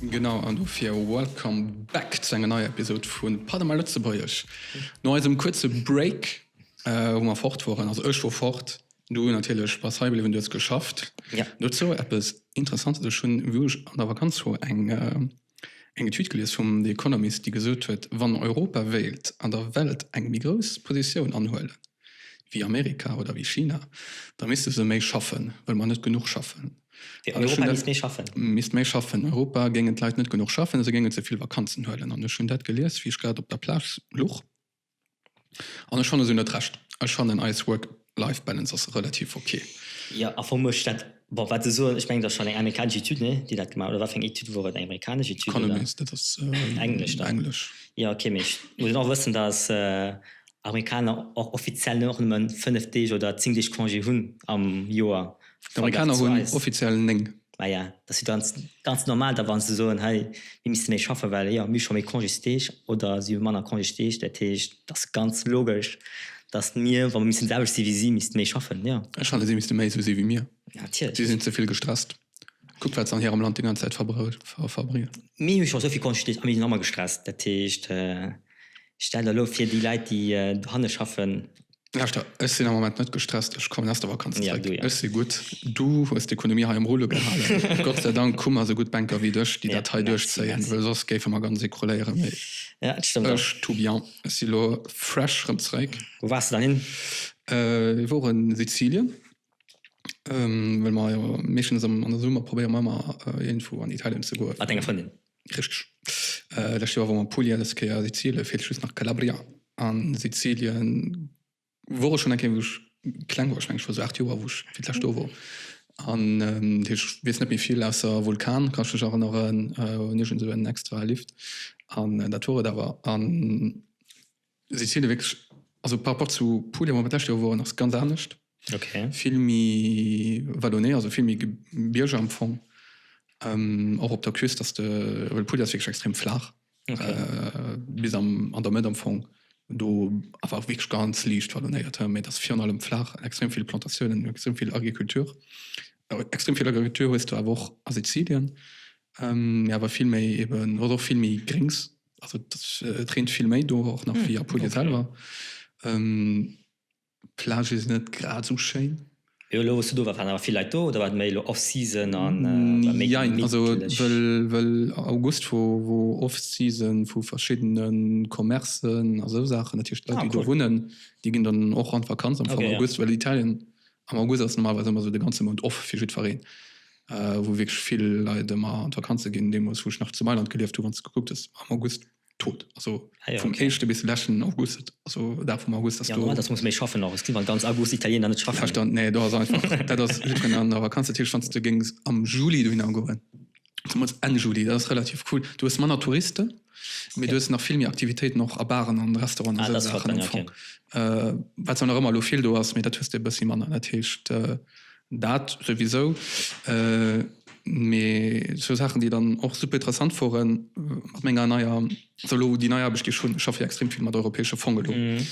Genau, an dofir welcome back zu enger neier Episod vu Pas de mal Lëtzebuergesch. No eisem kuerze Break, wou mer fort woren, also ech wor fort, du natierlech bass hei bliwwen, du hues geschafft, dozou eppes Interessantes, Ech hunn, wou ech an der Vakanz wor, eng Etüd gelies vum The Economist, déi gesot huet, wann Europa wéilt an der Welt eng méi grouss Positioun anhuelen, wéi Amerika oder wéi China, da misste se méi schaffen, wëll mer net genuch schaffen. Fir Europa misst méi schaffen? Misst méi schaffen. Europa géingen d'Leit net genuch schaffen, se géingen ze vill Vakanzen huelen. An ech hunn dat gelies, wéi ech grad op der Plage luch. An ech fanne se hunn net Recht. Ech fannen eis Work Life Balance ass relativ ok. Jo, a forméch dat. Bon, wat se soen, ech mengen, dat ass schonn eng amerikanesch Etüd, nee? déi dat gemaach, oder wat fir eng Etüd wor et? Eng amerikanesch Etüd? Economist, dat ass englesch. Jo, ok, mee ech muss och wëssen, datt. Amerikaner och offiziell och nëmme 5 Deeg oder 10 Deeg Congé hunn am Joer. D'Amerikaner hunn offiziell 9. Maja, dat ass jo ganz normal da, wa se soen, hei mir misste méi schaffen, well jo mir hu scho méi Congésdeeg oder si hu manner Congésdeeg. Dat heescht, et ass ganz logesch, datt mir, wa mir missten déi selwecht si wéi si, misste méi schaffen, jo. Ech fannen, si misste méi esou si wéi mir. Natierlech. Si sinn ze vill gestresst. Kuckt, wat se an hirem Land déi ganz Zäit verbréngen. Mir hu scho esou vill Congésdeeg a mir sinn nach manner gestresst. Dat heescht. Stell der elo fir déi Leit déi dohanne schaffen. Lauschter, ech sinn am Moment net gestresst, ech kommen aus der Vakanz zréck. Ja, du ja. Ech si gutt. Du hues d'Ekonomie hei am Roulo gehalen. Gott sei Dank hu mer esou gutt Bänker wéi dech, déi ja, dat hei duerchzéien, well soss géife mer ganz ecrouléieren. Mee ja, et stëmmt ech, tout bien, ech si elo fresh rëm zréck. Wou waars de dann hin? Mir woren Sizilien, well mer jo meeschtens an der Summer probéiere mer ëmmer iergendwou an Italien ze goen. Mat denger Frëndin? Richteg. Lescht Joer wor mer Puglia, dës Kéier Sizilien, feelt just nach Calabria. An Sizilien wor ech schonn eng Kéier wou ech kleng wor, ech mengen ech wor sou 8 Joer wou ech fir d'lescht do wor. An ech weess net méi vill ausser Vulkan kann ech mech erënneren, hunn iergend esou en extra Lift an dat wor et awer. An. Si ziele wierklech, also par rapport zu Puglia, wou mer d'lescht Joer woren, ass ganz anescht. Vill méi vallonné, also vill méi Gebierger am Fong. Och op der Küst ass de, well Puglia ass wierklech extrem flaach, bis am, an der Mëtt am Fong, do awer och wierklech ganz liicht vallonnéiert, mä et ass virun allem flaach, extrem vill Plantatiounen, extrem vill Agriculture. Extrem vill Agriculture hues de awer och a Sizilien, mä awer vill méi eben, hues och vill méi Gréngs. Also das äh, trinkt viel méi do och nach wie Apulia okay. selber. Ähm, Plage is net grad so schéin. Jo, lo, du war waren awer vill Leit do oder wat méi Off-Season an äh, mm, ja, also, well, well August wo, wo Off-Season vu verschiedenen Commercen a so Sachen natürlich Leute, ah, cool. die do wunnen, die ginn dann och an Vakanz am okay, August, ja. well Italien Am August ass normalerweis ëmmer esou de ganze Mount off fir jiddfereen, wou wierklech vill Leit ëmmer an d'Vakanze ginn. Deemools, wou ech nach zu Mailand gelieft hu, wann s de gekuckt hues, war am August tot. Also vum éischte bis leschten August, also Dag vum August ass do. Januar, dass muss méi schaffen och. Et ginn an ganz August Italiener net schaffen. Verstanden, nee, do ass einfach, dat ass jiddfereen an der Vakanz. Dat heescht, wann s de géings am Juli dohinner goen, Zumals Enn Juli, dat ass relativ cool. Du hues manner Touristen, mee du Okay. hues nach vill méi Aktivitéiten och a Baren an Restauranten, Ah, esou dat ass flott Saachen am dann, Fong. Äh, wat zwar nach ëmmer elo vill do ass, mee dat hues de e bëssi manner. Dat heescht, äh, dat souwisou. Äh, mee esou Saachen, déi dann och super interessant woren mat menger neier, esou elo déi nei Aarbecht, déi ech hunn, ech schaffe jo extrem vill mat europäesche Fong elo, Mhm.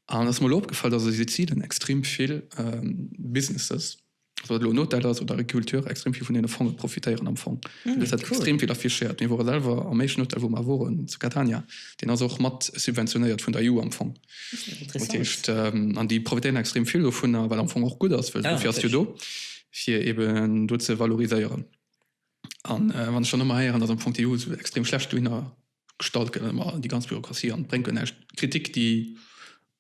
an et ass mer elo opgefall, dass a Sizilien extrem vill, ähm, Businesses, Ob dat elo en Hotel ass oder Agriculture, extrem vill vun deene Fonge profitéieren am Fong. Ah, dat gëtt cool. extrem vill affichéiert. Mir wore selwer am éischten Hotel, wou mer woren, zu Catania, deen ass och mat subventionéiert vun der EU am Fong. Dat Interessant. heescht, ähm, an déi profitéieren extrem vill dovunner, wat am Fong och gutt ass, well Ja, dofir ass jo do, fir eben do ze valoriséieren. An äh, wann ech dann ëmmer héieren, dass am Fong d'EU esou extrem schlecht dohinner. Gestalt gëtt an ëmmer déi ganz Bürokratie an et bréngt guer näischt d'Kritik déi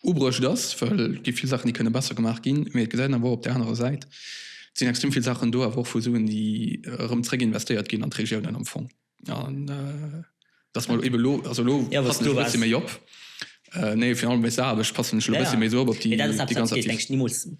ubruecht ass, well et gi vill Saachen déi kënne besser gemaach ginn, mee et gesäit een awer och op där anerer Säit, et sinn extrem vill Saachen do awer och vu Suen déi erëm zréck investéiert ginn an d'Regiounen am Fong an dass mer ebe elo, also elo passen ech e bësse méi op, nee fir allem wéinst der Aarbecht passen ech elo e bësse méi esou op, op déi ganz aktiv.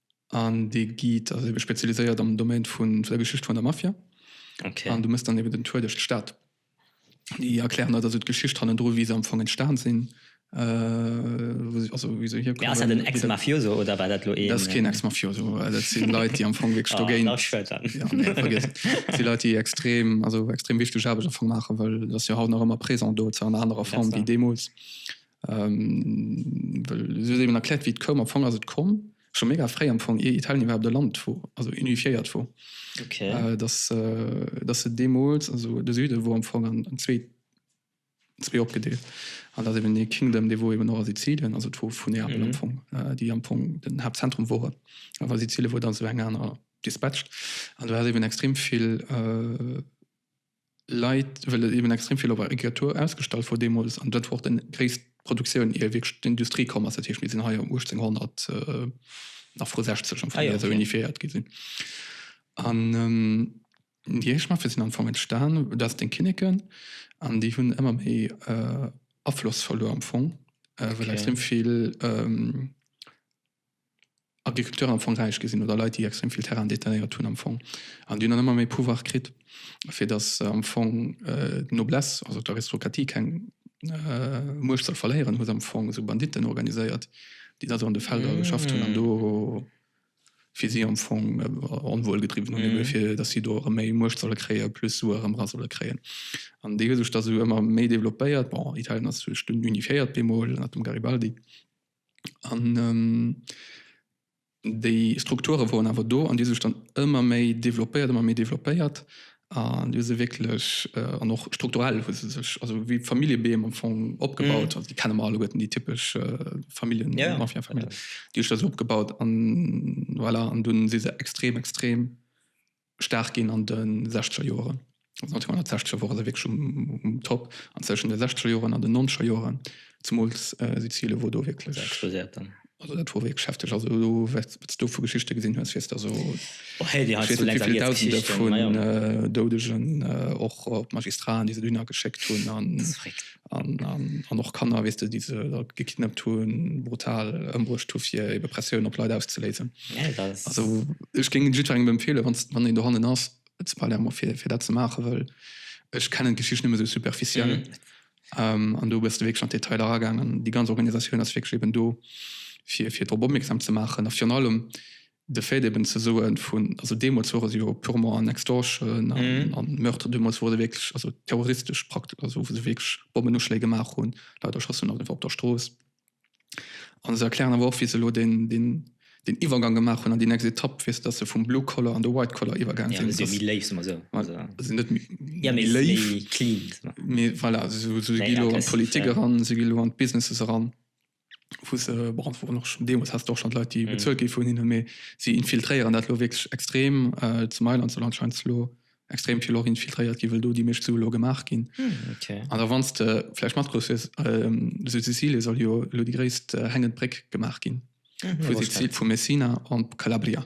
An dee geet, ass ebe spezialiséiert am Domaine vu der Geschicht vun der Mafia. Okay. An du mëss dann eben den Tour duerch d'Stad. Déi erklären der da sou d'Geschicht hannendru, wéi se am Fong entstan sinn, wou se, also wéi se hierkommen. Mee ass dat en Ex-Mafioso oder war dat elo een. Dat ass keen Ex-Mafioso. Dat si Leit, déi am Fong wierklech dogéint. Oh, da ass schued dann. Jo, nee, vergiess et. Dat si Leit, déi extrem, also extrem wichteg Aarbecht am Fong maachen, well et ass jo haut nach ëmmer présent do, zwar an anerer Form wéi deemools. Well si huet eben erkläert, wéi et koum. Am Fong ass et komm, scho méga fréi am Fong, ier Italien iwwerhaapt e Land wor, also unifiéiert wor, dass se deemools, also de Süde wor am Fong an zwee opgedeelt. An dass eben dee Kingdom, dee wor eben och a Sizilien, also et wor vu Neapel am Fong, déi am Fong den Haaptzentrum woren, awer Sizilien wor dann zu enger anerer dispatcht. An do hat eben extrem vill Leit, well et eben extrem vill op der Écriture ausgestallt wor deemools an dat wor och déi gréisst Produktioun ier wierklech d'Industrie komm ass. Dat heescht mir sinn hei am 1800 nach vru 60 am Fong esou unifiéiert gi sinn. An déi éischt Maffe sinn am Fong entstan, dat sinn d'Kinneken an déi hunn ëmmer méi Afloss verluer am Fong, well extrem vill, Agriculteuren am Fong räich gi sinn oder Leit, déi extrem vill Terrainen détenéiert hunn am Fong. An déi hunn dann ëmmer méi Pouvoir kritt, fir datt am Fong d'Noblesse, also d'Aristokratie keng Muecht soll verléieren, hu se am Fong esou Banditten organiséiert, déi da sou an de Felder geschafft hunn an do fir si am Fong Onwuel gedriwwen hunn, ebe fir datt si do erëm méi Muecht solle kréien, plus Sue erëm era solle kréien. An déi hu sech da sou ëmmer méi développéiert. Bon, Italien ass duerch den unifiéiert bemol ënnert dem Garibaldi. An déi Strukture woren awer do an déi hu sech dann ëmmer méi developpéiert, ëmmer méi developpéiert an déi hu se wierklech an och strukturell hu se sech also wéi Familljebeem am Fong opgebaut. Also déi kenne mer alleguerten, déi typesch Familljen, Mafia-Familljen, déi hu sech da sou opgebaut an voilà. An dunn si se extrem, extrem staark ginn an de sechzeger Joeren. Also 1960 wore se wierklech um, um Top. An zwëschen de sechzeger Joeren an de nonzeger Joeren, zemools äh, Sizile wor do wierklech. Explosiert dann. Also dat wor wierklech heftig. Also do, wat s du vu Geschichte gesinn hues, weess der so. Oh, hey, dir hat zu Länner wéi Dausende vun ja. Doudegen, och op Magistraten, déi se dunner geschéckt hunn. An an, an, an och Kanner, weess de, déi se da gekidnappt hunn, brutal ëmbruecht hu fir ebe Pressioun op Leit auszeléisen. Nee, dat ass. Also ech géing jiddwerengem empfeelen, wann, wann een dohannen ass zu Palermo fir, fir dat ze maachen, well ech kennen d'Geschicht nëmme sou superficiel. Mhm. Ähm, an do bass de wierklech an d'Detail eragaangen. Déi ganz Organisatioun ass wierklech eben do fir, fir drop opmierksam ze maachen a virun allem De Fait eben ze soen vun, also deemools wor et jo purement an Extortion a Meurtre, deemools wor se wierklech also terroristesch Praktiken, also wou se wierklech Bommenuschléi gemaach hunn, Leit erschossen hunn op der Strooss. A se erklären awer och, wéi se elo deen, deen, deen Iwwergang gemaach hunn an déi nächst Etapp, wéi se, datt se vum Blue Collar an de White Collar iwwergaang sinn. Datt se méi léif sinn, soe mer esou. Voilà, se sinn net méi léif. Méi clean. Voilà, se gi elo an d'Politik eran, se gi elo an d'Businesses eran. wou se beantworten och schon deemols hast och schon Leit die bezuelt gi vun hinne méi sie infiltréieren dat lo wirklich extrem äh, zu Mailand soll anscheinend lo extrem viel och infiltréiert gi well do die mecht so lo gemacht gin hm, okay. an der wannste vielleicht mat groß ist ähm, so Sizilien soll jo lo die gréisst äh, hängend Bréck gemacht gin mhm, vu Messina an Calabria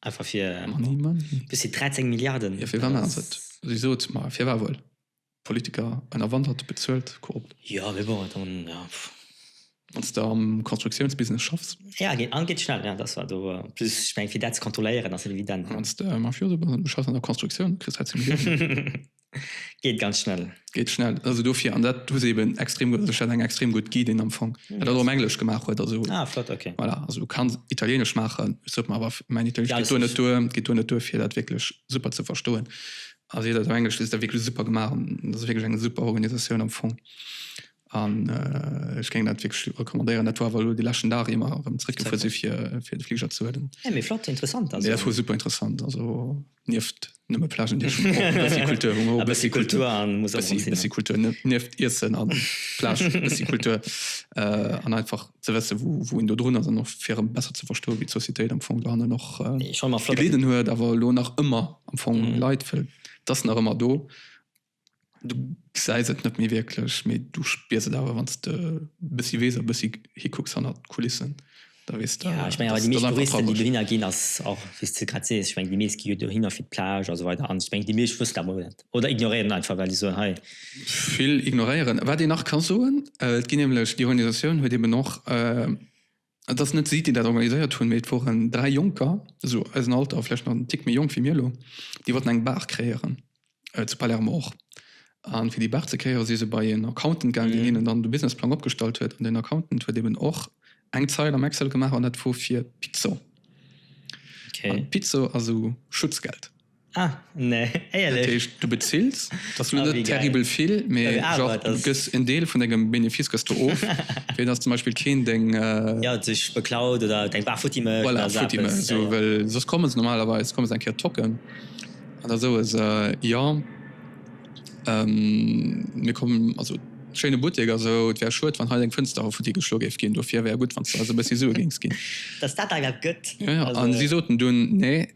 Einfach fir Money, money. Bis 13 Milliarden. Jo fir wann ass et? Si sot mer fir war wuel. Politiker ënnerwandert, bezuelt, korrupt. Jo mee bon dann ja. Wanns de am Konstruktiounsbusiness schaffs. Ja geet an geet schnell ja dass war do plus ech meng fir dat ze kontrolléieren ass et evident. Wanns de Mafioso bass an du schaffs an der Konstruktioun kriss hei ze Milliounen. Geet ganz schnell. Geet schnell. Also dofir, an dat hu se eben extrem gutt, also ech hat eng extrem gutt Guidin am Fong, déi dat och um Englesch gemaach huet, also. Ah, flott, okay. Voilà, also du kanns Italieenesch maachen, et sot mer awer, mäin Italieenesch geet do net duer, geet do net duer fir dat wierklech super ze verstoen. A seet dat um Englesch, dat ass wierklech super gemaach an dat ass wierklech eng super Organisatioun am Fong. An äh, ech géing dat wierklech recommandéieren. Dat war awer elo de leschten Dag, ier mer erëm zréckgefuer si fir, fir de Fliger ze huelen. Ja, mee flott, interessant also. Ja, dat war super interessant, also nieft nëmme Plagen déi ech schon brauchen, e bëssi Kultur, hu mer och e bëssi Kultur, e bëssi bëssi Kultur nieft Iessen a Plage, e bëssi Kultur an einfach ze wësse wou wou een dodrun ass an och fir erëm besser ze verstoe wéi d'Sociétéit am Fong dohannen och gelidden huet, awer elo nach ëmmer am Fong leit, well et ass nach ëmmer do. Du gesäis et net méi wierklech, mee du spiers et awer, wann s de e bëssi weess a e bëssi hikucks hannert d'Kulissen, da weess de, dass et einfach trauereg ass. Jo, ech menge awer déi meescht Touristen, déi dohinner ginn, ass och, wéi s de grad sees, ech meng, déi meescht gi jo dohinner fir d'Plage a esou weider an ech meng, déi meescht wëssen dat mol net oder ignoréieren einfach, well déi soen, hei. Vill ignoréieren. Wat een nach ka soen, et ginn nämlech, déi Organisatioun huet eeben och, Et ass net si, déi dat organiséiert hunn, mee et woren dräi Jonker, esou eisen Alter, vläicht nach en Tick méi jonk wéi mir elo, déi wollten eng Bar kreéieren, zu Palermo och. A fir déi Bar ze kreéieren, si se bei een Accountant gaangen, deen hinnen dann de Businessplang opgestallt huet. An deen Accountant huet eben och eng Zeil am Excel gemaach, an dat wor fir Pizzo. An Pizzo ass esou Schutzgeld. Ah, nee, éierlech? Dat heescht, du bezills, dat ass lo net terribel vill, mee genre du gëss en Deel vun dengem Benefice gëss du of, fir dass zum Beispill keen deng. Jo, sech beklaut oder deng War futti mécht oder esou eppes. Voilà, futti mécht, well soss komme se normalerweis komme se eng Kéier tocken an da soe se, jo, mir kommen, also schéine Buttek a sou, et wär schued, wann hei deng Fënster hei futti geschlo géif ginn, dofir wär gutt, wann s de eis e bëssi Sue géings ginn. Dass dat da grad gëtt. Jo, jo, a si soten dunn, nee.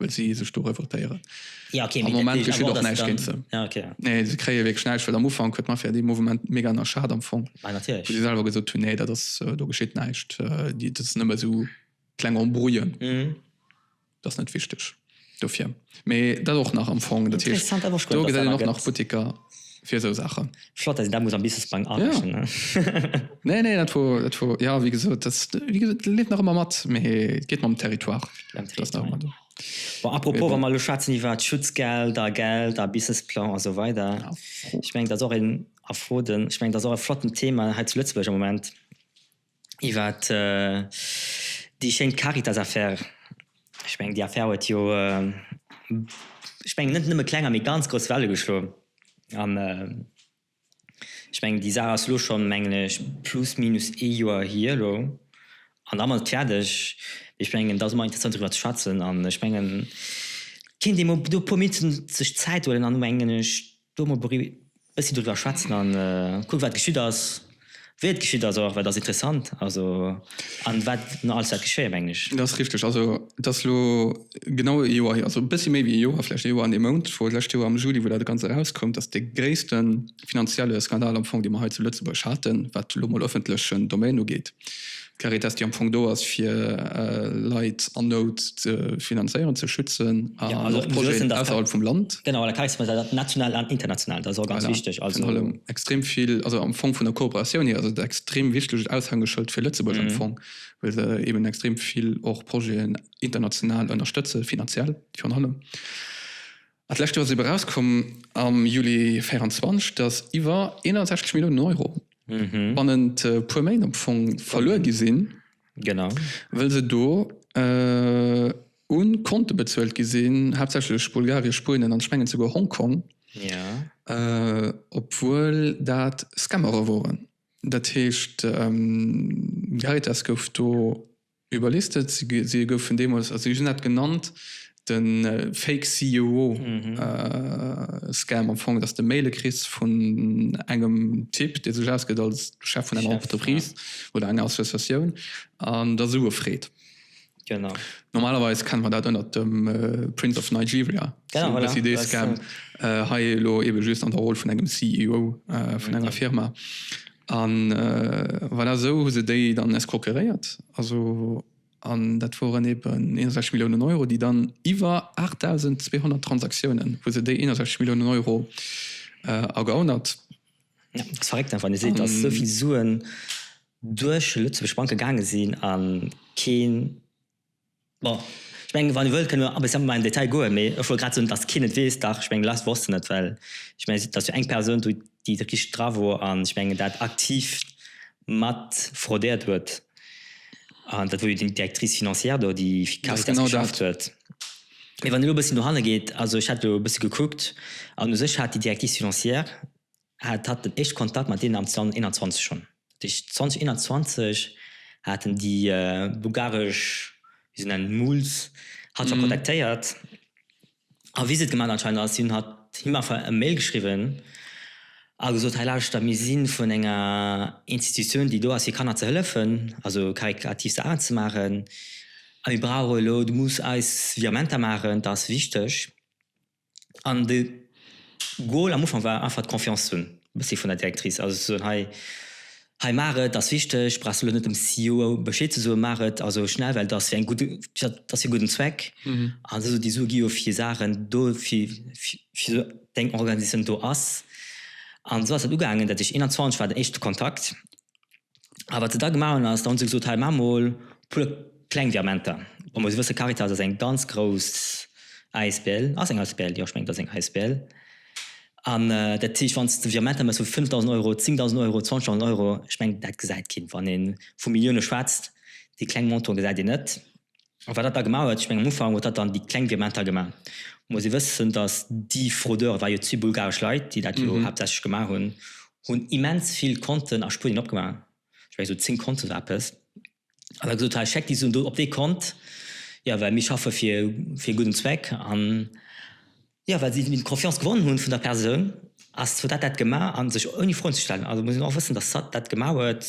well si sech do revoltéieren. Ja, okay, am Moment geschéet och näischt géint se. Ja, okay. Nee, se kréie wierklech näischt, well am Ufank huet d'Mafia dee Mouvement mega ënnerschat am Fong. Ah, natierlech. Wou si selwer gesot hunn, nee, dat ass, äh, do geschéet näischt, äh, déi, dat sinn ëmmer esou kleng Embrouillen. Mhm. Dat ass net wichteg dofir. Mee dat och nach am Fong. Dat heescht, do gesäit een och nach Butteker. fir esou Saachen. Flott, dass een dat muss am Businessplang arechnen. Ja. nee, nee, dat wor, dat wor, ja, wéi gesot, dat, wéi gesot, dat leeft nach ëmmer mat, mä et geet mam Territoire. Mam Territoire, ja. Bon, apropos, bon. wa mer elo schwätzen iwwert Schutzgelder, Gelder, Businessplang a sou weider, ja. ech meng, dat ass och een, a Froden, ech meng, dat ass och e flotten Thema hei zu Lëtzebuerg am Moment. iwwer déi schéin Caritas-Affär. Ech mengen, déi Affär huet jo, ech mengen, net nëmme klenger, mee ganz grouss Welle geschlo. An ech mengen, déi Saach ass elo schonn, mengen ech, plus minus ee Joer hier elo. An da ass et fäerdeg. Ech mengen, da ass ëmmer interessant, driwwer ze schwätzen. An ech mengen, kéint ee mol do e puer Minutten sech Zäit huelen an, mengen ech, Do mol e bëssi driwwer schwätzen a kucken, wat geschitt ass, wéi et geschitt ass och, well et ass interessant, also, a wat nach alles wäert geschéien, mengen ech. Dat ass richteg. Also, et ass elo genau e Joer hier, also e bëssi méi wéi e Joer, vläicht e Joer an ee Mount, wou d'lescht Joer am Juli, wou dat Ganzt erauskoum, dass dee gréisste finanzielle Skandal am Fong, dee mer hei zu Lëtzebuerg haten, wat elo mol ëffentlechen Domaine ugeet, D'Caritas, déi am Fong do ass, fir Leit an Nout ze finanzéieren, ze schützen an och Projeten ausserhalb vum Land. Genau, an der Caritas gëtt dat national an international, dat ass och ganz wichteg. Voilà, fir an allem extrem vill, also am Fong vun der Kooperatioun hier ass et e extrem wichtegt Aushängeschëld fir Lëtzebuerg am Fong, well se eeben extrem vill och Projeten international ënnerstëtze finanziell virun allem. D'lescht Joer ass eebe erauskomm am Juli 2024, datt iwwer 61 Milliounen Euro bannent e puer Méint am Fong verluer gi sinn, wëll se do u Konte bezuelt gi sinn, haaptsächlech Bulgarien, Spuenien an ech mengen souguer Hongkong, obwuel dat Scammere woren. Dat heescht, Caritas gouf do. Überlisted, si goufen deemools, also si hunn dat genannt, de Fake CUO Scam, am Fong, dass de Maile kriss vun engem Typ, dee sech ausgëtt als Chef vun enger Entreprise oder enger Associatioun an der Sue freet. Genau. Normalerweis kenne mer dat ënnert dem Prince of Nigeria, esou e bëssi dee Scam, hei elo ebe just an der Roll vun engem CUO vun enger Firma. A voilà, esou hu se déi dann escroqueréiert. Also, an dat woren eben 61 Milliounen Euro, déi dann iwwer 8.200 Transaktiounen hu se déi 61 Milliounen Euro ergaunert. Jo, et ass verréckt, wann ee seet, datt esou vill Suen duerch lëtzebuergesch Banke gaange sinn a keen. Bon, ech mengen, wann Dir wëllt, kënnen mer e bësse méi an den Detail goen, mee ech wollt grad soen, datt keen et weess. Dach, ech mengen, d'Leit wossten et, well ech mengen, et ass jo eng Persoun do, déi do richteg dra wor an, ech mengen, dat aktiv mat fraudéiert huet. An dat wor jo déi Directrice financière do, déi fir d'Caritas geschafft huet. Mee wann Dir elo e bëssi dohanne geet, also ech hat elo e bësse gekuckt an u sech hat déi Directrice financière, hat hat den éischte Kontakt mat deenen am 2021 schonn. Dat heescht 2021 haten déi bulgaresch, wéi se nennen, Muls hatt scho kontaktéiert a Visite gemaach anscheinend a si hunn hatt him einfach e Mail geschriwwen a gesot, hei lauschter mir si vun enger Institutioun déi do ass fir Kanner ze hëllefen, also karikativ Saachen ze maachen a mir brauche elo, du muss eis Virementer maachen, dat ass wichteg. An de Goal am Ufank war einfach d'Confiance hunn, e bëssi vun der Directrice. Also ze soen, hei, hei maach et, ass wichteg, brauchs elo net dem CEO Bescheed ze soen, maach et also schnell, well et ass fir eng gutt, et ass fir e gudden Zweck. An esou, déi Sue gi jo fir Saachen do, fir, fir esou eng Organisatioun do ass. An esou ass dat ugaangen, dat heescht 21 war den éischte Kontakt. A wat se da gemaach hunn ass, da hu se gesot, hei maache mol e puer kleng Virementer. Wa mer esou wësse, Caritas ass eng ganz grouss Asbl, ass eng Asbl? Jo, ech mengen et ass eng Asbl. An dat heescht, wann s de Virementer méchs vu 5.000 Euro, 10.000 Euro, 20.000 Euro, ech mengen dat gesäit keen. Wann ee vu Millioune schwätzt, déi kleng Montantë gesäit een net. An wat dat da gemaach huet, ech mengen am Ufank huet dat dann déi kleng Gemeng da gemaach, muss ee wëssen, datt déi Frodeure war jo d'Sue bulgaresch Leit, déi dat jo haaptsächlech gemaach hunn, hunn immens vill Konten a Spuenien opgemaach, ech menge sou 10 Konten oder eppes, an da gesot, hei schéckt déi Suen do op dee Kont, jo well mir schaffe fir e gudden Zweck. Jo, well si d'Confiance gewonnen hunn vun der Persoun, ass d'Sat dat dat gemaach a sech ouni Froen ze stellen. Also muss een och wëssen, datt d'Sat dat gemaach huet,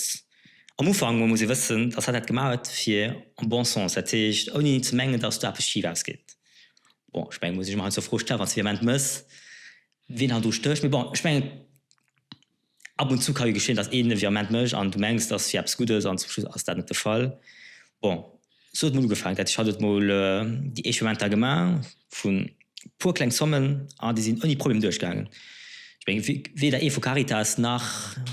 am Ufank mol muss ee wëssen, datt d'Sat dat gemaach huet fir en bon sens, dat heescht ouni ze mengen, datt do eppes schif ausgeet. Bon, ech mengen, muss ech mer heiansdo Froe stellen, wann s de Vehement mëss, wien hei do stécht. Mee bon, ech mengen. Ab und zu ka jo geschéien, dass een e Virement mécht an du mengs, dass fir eppes gutt ass an zum Schluss ass dat net de Fall. Bon, sou huet mol ugefaangen, dat heescht, hatt huet mol déi éischt Virementer gemaach vu puer kleng Zommen an déi sinn ouni Problem duerchgaangen. Ech meng, weder ee vu Caritas nach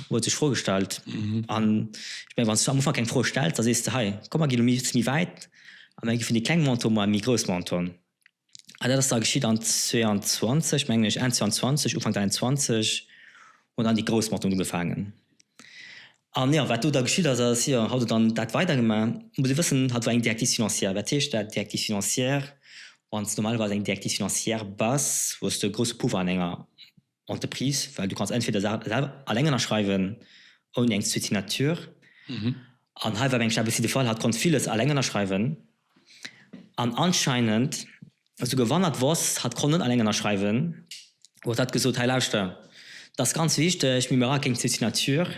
huet sech d'Fro gestallt. An ech meng, wann s du am Ufank keng Fro stells, da sees de, hei, komm mer ginn elo e bësse méi wäit a mer gi vun de kleng Monten mol an e méi grouss Montant. An dat ass da geschitt an 22, mengen ech, Enn 22, Ufank 23 hunn dann déi grouss Motoren ugefaangen. An jo, wat do da geschitt ass, ass, jo, haut huet dann dat weidergemaach. Et muss ee wëssen, hatt war eng Directive financière. Wat heescht dat, Directive financière? Wann s de normalerweis eng Directive financière bass, hues de e grousse Puffer an enger Entreprise, well du kanns entweder Saachen selwer alleng ënnerschreiwen, ouni eng zweet Signature, an hei war, meng ech, awer si de Fall, hat konnt villes alleng ënnerschreiwen, an anscheinend esouguer wann hat wosst, hat konnt net alleng ënnerschreiwen, huet hat gesot, hei lauschter, dat ass ganz wichteg, mee mir brauche keng zweet Signature,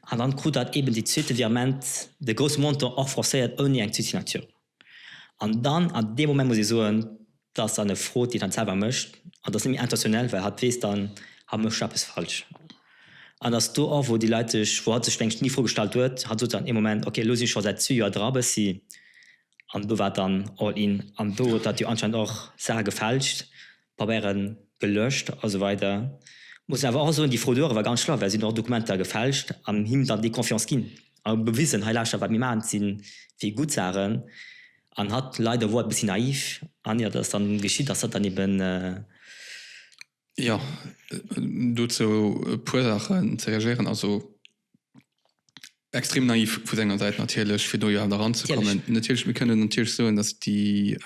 an dann krut hat eben dee zweete Virement, de grousse Montant, och forcéiert ouni eng zweet Signature. An dann an deem Moment muss ee soen, dat ass dann e Frot, deen hatt selwer mécht an dat ass net méi intentionnel, well hatt weess dann, hatt mécht eppes falsch. An ass do och, wou déi Leit sech, wou hatt sech mengt ni Fro gestallt huet, hatt sot dann ee Moment, ok, elo si scho säit zwee Joer dra bëssi an do war et dann all in an do huet hatt jo anscheinend och Saache gefälscht, Pabeieren gelöscht a sou weider. Muss awer och soen déi Fro duerewwer ganz schlaff well si hunn och Dokumenter gefälscht an him dann déi Confiance ginn a bewisen hei lauschter wat mir maachen et sinn fir gutt Saachen an hatt leider wor e bëssi naiv an ier datt dann geschitt ass datt dann eben. Jo dozou e puer Saachen ze reagéieren. Also Extrem naiv vu senger Säit natierlech, fir do jo haut eranzekommen. Natierlech, mir kënnen natierlech soen, dass déi,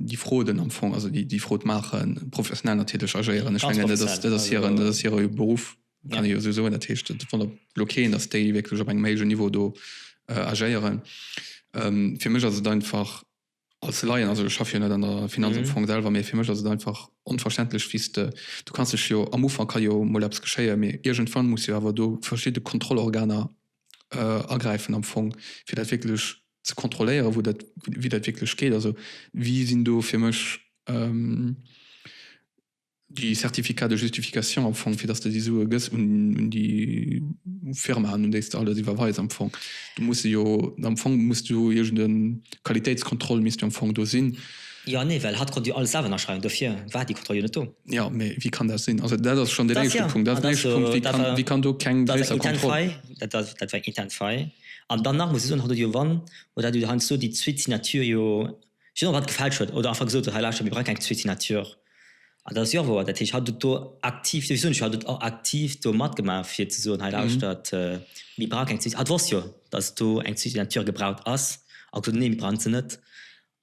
déi Fraude am Fong, also déi, déi Fraude maachen, professionell natierlech agéieren. Ech mengen, dat ass, dat ass hiren, dat ass hire Beruff, kann ee jo esou soen. Dat heescht, et wonnert elo keen, dass déi wierklech op engem héijen Niveau do agéieren. Fir mech ass et einfach als Laien, also ech schaffe jo net an der Finanz am Fong selwer, mee fir mech ass et einfach onverständlech, wéi s de, du kanns dech jo, am Ufank ka jo mol eppes geschéien, mee iergendwann muss jo awer do verschidde Kontrollorganer agräifen am Fong, fir dat wierklech ze kontrolléieren, wou dat, wéi dat wierklech geet. Also, wie sinn do fir mech, Déi Certificats de justification am Fong, fir dass de déi Sue gëss un déi Firma, un déi s de alles iwwerweis am Fong. Do muss se jo, am Fong muss do iergend e Qualitéitskontroll misst jo am Fong do sinn. Jo, nee, well hatt konnt jo alles selwer ënnerschreiwen, dofir war déi Kontroll jo net do. Jo, mee wéi kann dat sinn? Also dat ass schonn deen éischte Punkt. Dat ass deen éischte Punkt, wéi kann, wéi kann do keng gréisser Kontroll. Dat war eng intern Faille, dat, dat war eng intern Faille. An dann nach muss ech soen, hatt huet jo, wann, huet hatt jo heiansdo déi zweet Signature jo. Sinon wat gefälscht huet oder einfach gesot huet, hei lauschtert, mir brauche keng zwee Signatures. An dat ass jo wouer. Dat heescht, hatt huet do aktiv, wéi soen ech jo, hatt huet och aktiv do matgemaach fir ze soen, hei lauschtert, mir brauche keng zwee, hatt wosst jo, datt do eng zwee Signature gebraucht ass a gesot huet, nee, mir brauchen se net.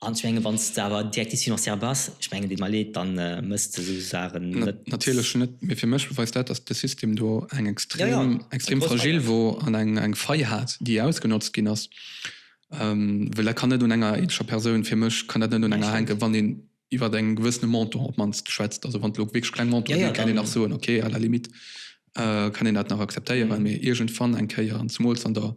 An ech menge wann s de awer Directive financière bass, ech mengen, deet mer leed, da mëss de esou Saachen net maachen. Natierlech net, mee fir mech beweist dat, datt de System do eng extrem, extrem fragile wor an eng Fai hat, déi ausgenotzt ginn ass. Well dat kann net un enger eenzescher Persoun, fir mech kann dat net un enger hänken, wann een iwwert eng gewëssene Montant op d'mannst schwätzt. Also wann et elo wierklech kleng Montant sinn, kann een nach soen, okay, à la limite kann een dat nach akzeptéieren. Mee iergendwann eng Kéier, an zemools an der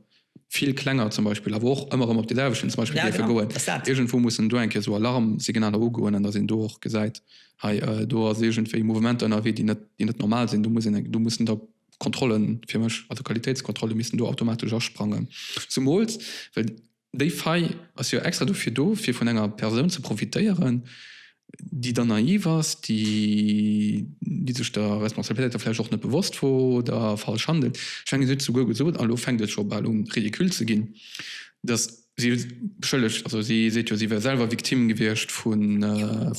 vill klenger zum Beispill, awer och ëmmer erëm op déi selwechten zum Beispill dierfe goen, iergendwou mussen do eng Kéier esou Alarmsignaler ugoen an datt een do och gesäit, hei do ass iergendwéi Mouvementer ënnerwee, déi net normal sinn. Do muss een, do mussen der d'Kontrollen fir mech, also Qualitéitskontrolle missten do automatesch asprangen. Zumools well déi Faille ass jo extra dofir do, fir vun enger Persoun ze profitéieren, déi dann naiv ass, déi sech der Responsabilitéit da vläicht och net bewosst wor oder falsch handelt. Ech menge si huet et souguer gesot, an elo fänkt et scho bal u ridicule ze ginn, dass Si beschëllegt, also si seet jo, si wär selwer Victime gewiescht vu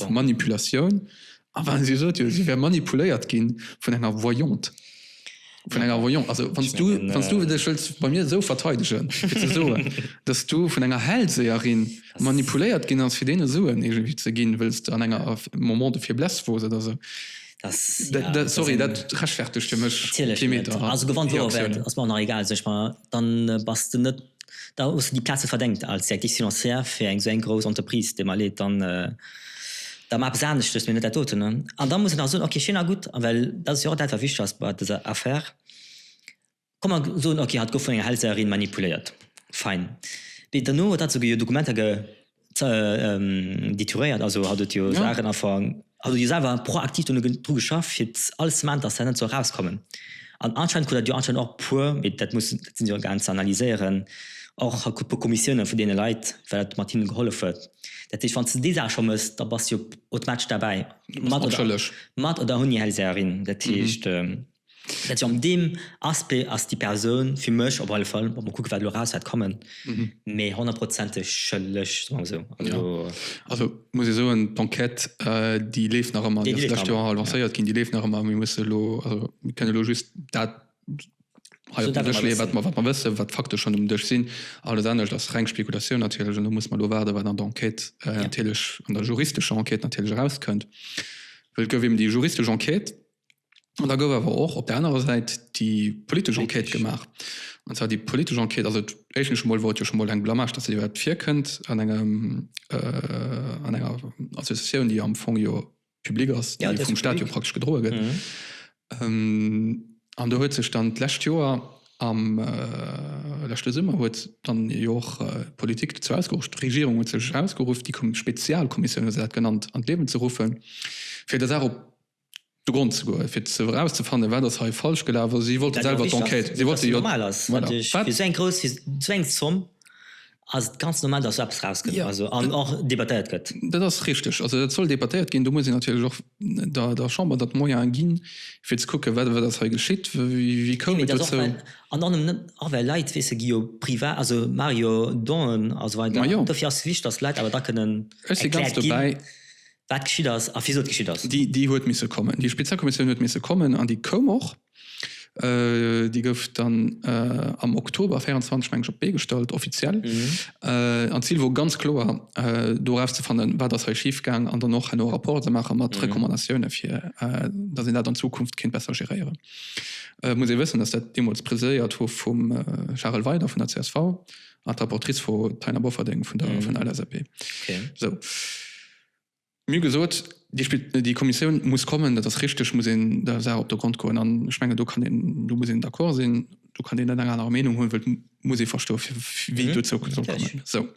Manipulatioun. Awer si sot jo, si wär manipuléiert gi vun enger Voyante. Vun enger Voyante. Also wann s du, wann s du dech wëlls bei mir esou verteidegen, fir ze soen, dass du vun enger Hellseherin manipuléiert ginn ass, fir deene Suen iergendwéi ze ginn, wëlls de an enger Moment de faiblesse wors oder esou. Sorry, dat rechtfertegt fir mech kee Meter Reaktioun. dann bass de net, da hues de déi Plaze verdengt als Directrice financière fir eng esou eng grouss Entreprise, deem erleet dann da maach eppes aneschtes, mee net dat doten. An da muss een nach soen, ok, schéin a gutt, well dat ass jo och dat wat wichteg ass bei dëser Affaire, komm mer soen, ok, hatt gouf vun enger Hellseherin manipuléiert, fein, mee dono huet hatt souguer jo Dokumenter ge. Detouréiert, also hatt huet jo Saachen afank. Hatt huet jo selwer proaktiv dono dru geschafft, fir alles ze maachen, datt dat net sou erauskommen. An anscheinend krut dat jo anscheinend och puer, mee dat muss, dat sinn jo Organ ze analyséieren, och e puer Kommissioune vun deene Leit, well dat mat hinne gehollef huet. Dat heescht, wann s de déi Saach scho méchs, da bass s de jo automatesch derbäi, mat oder ouni Hellseherin. Dat heescht. Merci. An deem Aspect ass déi Persoun fir mech op alle Fall, muss mer kucken, wat elo eraus wäert kommen, méi honnertprozenteg schëlleg, soe mer esou. Also. Also muss ee soen, d'Enquête, déi leeft nach ëmmer. Déi leeft nach ëmmer. Déi ass d'lescht Joer lancéiert ginn. Déi leeft nach ëmmer. Mir mussen elo, also mir kënnen elo just dat hei op den Dësch leeën, wat mer, wat mer wëssen, wat d'Fakte schonn um Dësch sinn. Alles anescht ass reng Spekulatioun natierlech. An do muss mer elo waarden, wat an der Enquête natierlech, an der juristescher Enquête natierlech erauskënnt. Well et gouf eben déi juristesch Enquête, An da gouf awer och op der anerer Säit déi politesch Enquête gemaach. An zwar déi politesch Enquête, also éischtens emol wor et jo scho mol eng Blamage, datt se iwwerhaapt virkënnt an engem, an enger Associatioun, déi am Fong jo public ass, déi vum Staat jo praktesch gedroe gëtt. An do huet sech dann d'lescht Joer, am leschte Summer huet dann jo och d'Politik dozou ausgeruff, d'Regierung huet sech ausgeruff, déi Spezialkommissioun, wéi se dat genannt, an d'Liewen ze ruffen, fir der Saach op, de Grond ze goen, fir ze erauszefannen, wat ass hei falsch gelaf. Also si wollte selwer d'Enquête. Si wollte jo. Dat ass jo normal ass. Voilà. Natierlech, fir esou eng grouss, fir esou eng Zomm ass et ganz normal, datt esou eppes erauskënnt. Jo. Also an och debattéiert gëtt. Dat ass richteg. Also dat soll debattéiert ginn. Do muss een natierlech och der, der Chamber da d'Moyene ginn, fir ze kucken, wat, wat ass hei geschitt, wéi koum et dozou. Mee dat ass och, well an och net, och well Leit, weess de, gi jo privat, also maache jo Donen a sou weider. Ma jo. Dofir ass et wichteg, datt d'Leit awer da kënnen erkläert ginn. Ech si ganz dobäi. wat geschitt ass a wisou et geschitt ass. Déi huet misse kommen, déi Spezialkommissioun huet misse kommen an déi koum och. Déi gouf dann am Oktober 24, meng ech, op d'Bee gestallt, offiziell. An d'Zil wor ganz kloer, do erauszefannen, wat ass hei schifgaang an dann och herno e Rapport ze maache mat Recommandatioune fir datt een dat an Zukunft kéint besser geréieren. Et muss ee wëssen, datt dat deemools presidéiert wor vum Charel Weydert vun der csv. Ah, d'Rapportrice Frau Taina Bofferding vun der mm. vun LSAP. Okay. So. Mir gesot, die, die Kommission muss kommen, dat ass richtig muss en der Saach op der Grund goen an Schmenge do kann den, du muss en d'accord sinn, du kann den enger aner Meinung hunn, wët muss e versto wie mhm. du zou kommen. So.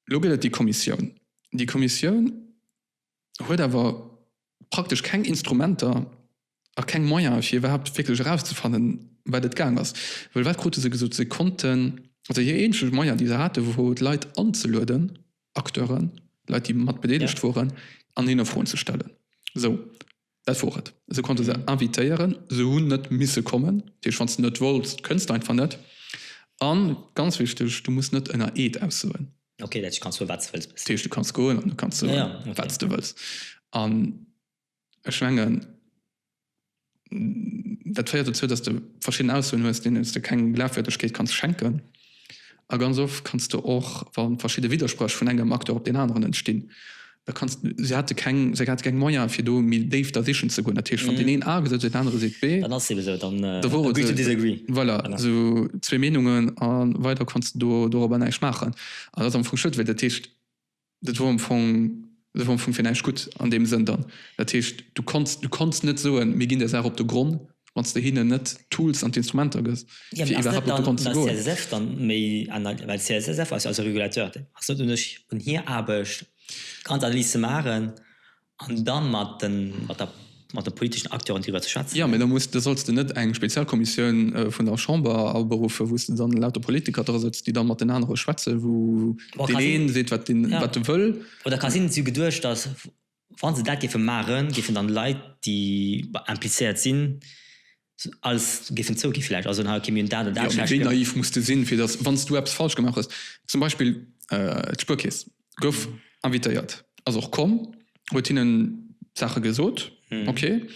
Lo gëtt die Kommission. Die Kommission huet awer praktesch keng Instrumenter a keng Moyene fir iwwerhaapt wierklech erauszefannen, wat et gaang ass. Well wat krute se gesot? Se konnten, also hir eenzeg Moyen, déi se hate wor d'Leit anzelueden, Acteuren, Leit déi mat bedeelegt woren, an hinne Froen ze stellen. Sou. Dat wor et. Se konnte se invitéieren. Se hunn net misse kommen. Dat heescht, wann s de net wolls, kënns de einfach net. A ganz wichteg, du muss net ënner Eed aussoen. Okay, dat heescht, du kanns soe wat s de wëlls. Dat heescht, du kanns goen an du kanns soe wat s de wëlls. An ech mengen, dat féiert dozou, datt s de verschidden Aussoen hues, deenen s de keng Glafwierdegkeet kanns schenken. A ganz oft kanns de och, wa verschidde Widderspréch vun engem Acteur op deen aneren entstinn, da kanns de, se hate keng, se hate keng Moyen, fir do méi déif da sichen ze goen. Dat heescht, wann deen een A gesot huet, deen anere seet B, da wore se, voilà, esou zwee Meenungen a weider konns de do, dorobber näischt maachen. An dat ass am Fong schued, well dat heescht, Dat wor am Fong, dat wor am Fong fir näischt gutt an deem Sënn dann. Dat heescht, du konns, du konns net soen, mir ginn der Saach op de Gronn, wann s de hinnen net d'Tools an d'Instrumenter gëss, Jo, mee fir ass net iwwerhaapt op de dann Gronn an ze der goen. CSSF dann méi ana-, well d'CSSF ass jo also Regulateur, ass net un ech, un hir Aarbecht, ganz Analyse ze maachen An da mat de politeschen Acteuren driwwer ze schwätzen. Jo, mee da solls de net eng Spezialkommissioun vun der Chamber aberuffen, wou s de dann lauter Politiker drasëtzt, déi da mat den anere schwätzen, wou deen ee seet, wat e wëll. Oder ka sinn, si hu geduecht, datt wa se dat géife maachen, géifen dann Leit, déi implizéiert sinn, Als géifen zouginn vläicht, also hei gi mir un dat an dat. Jo, mee wéi naiv muss de sinn, fir datt, wann s du eppes falsch gemaach hues, zum Beispill d'Spuerkeess gouf invitéiert, ass och komm, huet hinnen d'Saache gesot, okay,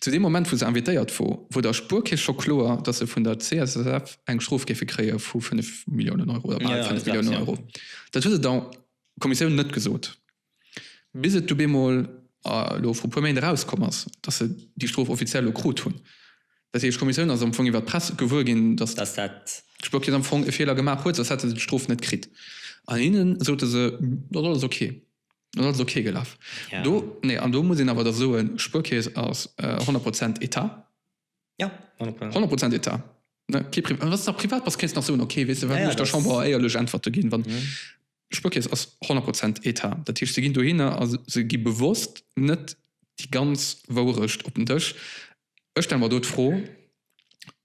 zu deem Moment, wou se invitéiert wor, wor der Spuerkeess scho kloer, datt se vun der CSSF eng Strof géife kréie vu fënnef Milliounen Euro oder bal fënnef Milliounen Euro. Dat huet et der Kommissioun net gesot. Bis et du bemol elo vru puer Méint erauskomm ass, datt se déi Strof offiziell elo krut hunn. Dat heescht, d'Kommissioun ass am Fong iwwer d'Press gewuer ginn, datt d'Spuerkeess am Fong e Feeler gemaach huet, soss hätte se d'Strof net kritt. An hinne sote se, dat ass alles ok. Dat ass alles ok gelaf. Do, nee, an do muss een awer da soen, d'Spuerkeess ass honnert Prozent Etat. Ja, 100 Prozent. 100 Prozent Etat. Ne, kee Pri wann s de nach privat bass, kéints nach soen, okay, weess de wat, Ja, ja, muss ech der dat- Chamber éierlech Äntwerte ginn, wann Mhm. Spuerkeess ass 100 Prozent Etat. Dat heescht, se ginn dohinner a se- se gi bewosst net déi ganz Wourecht op den Dësch. Ech stelle mer do d'Fro,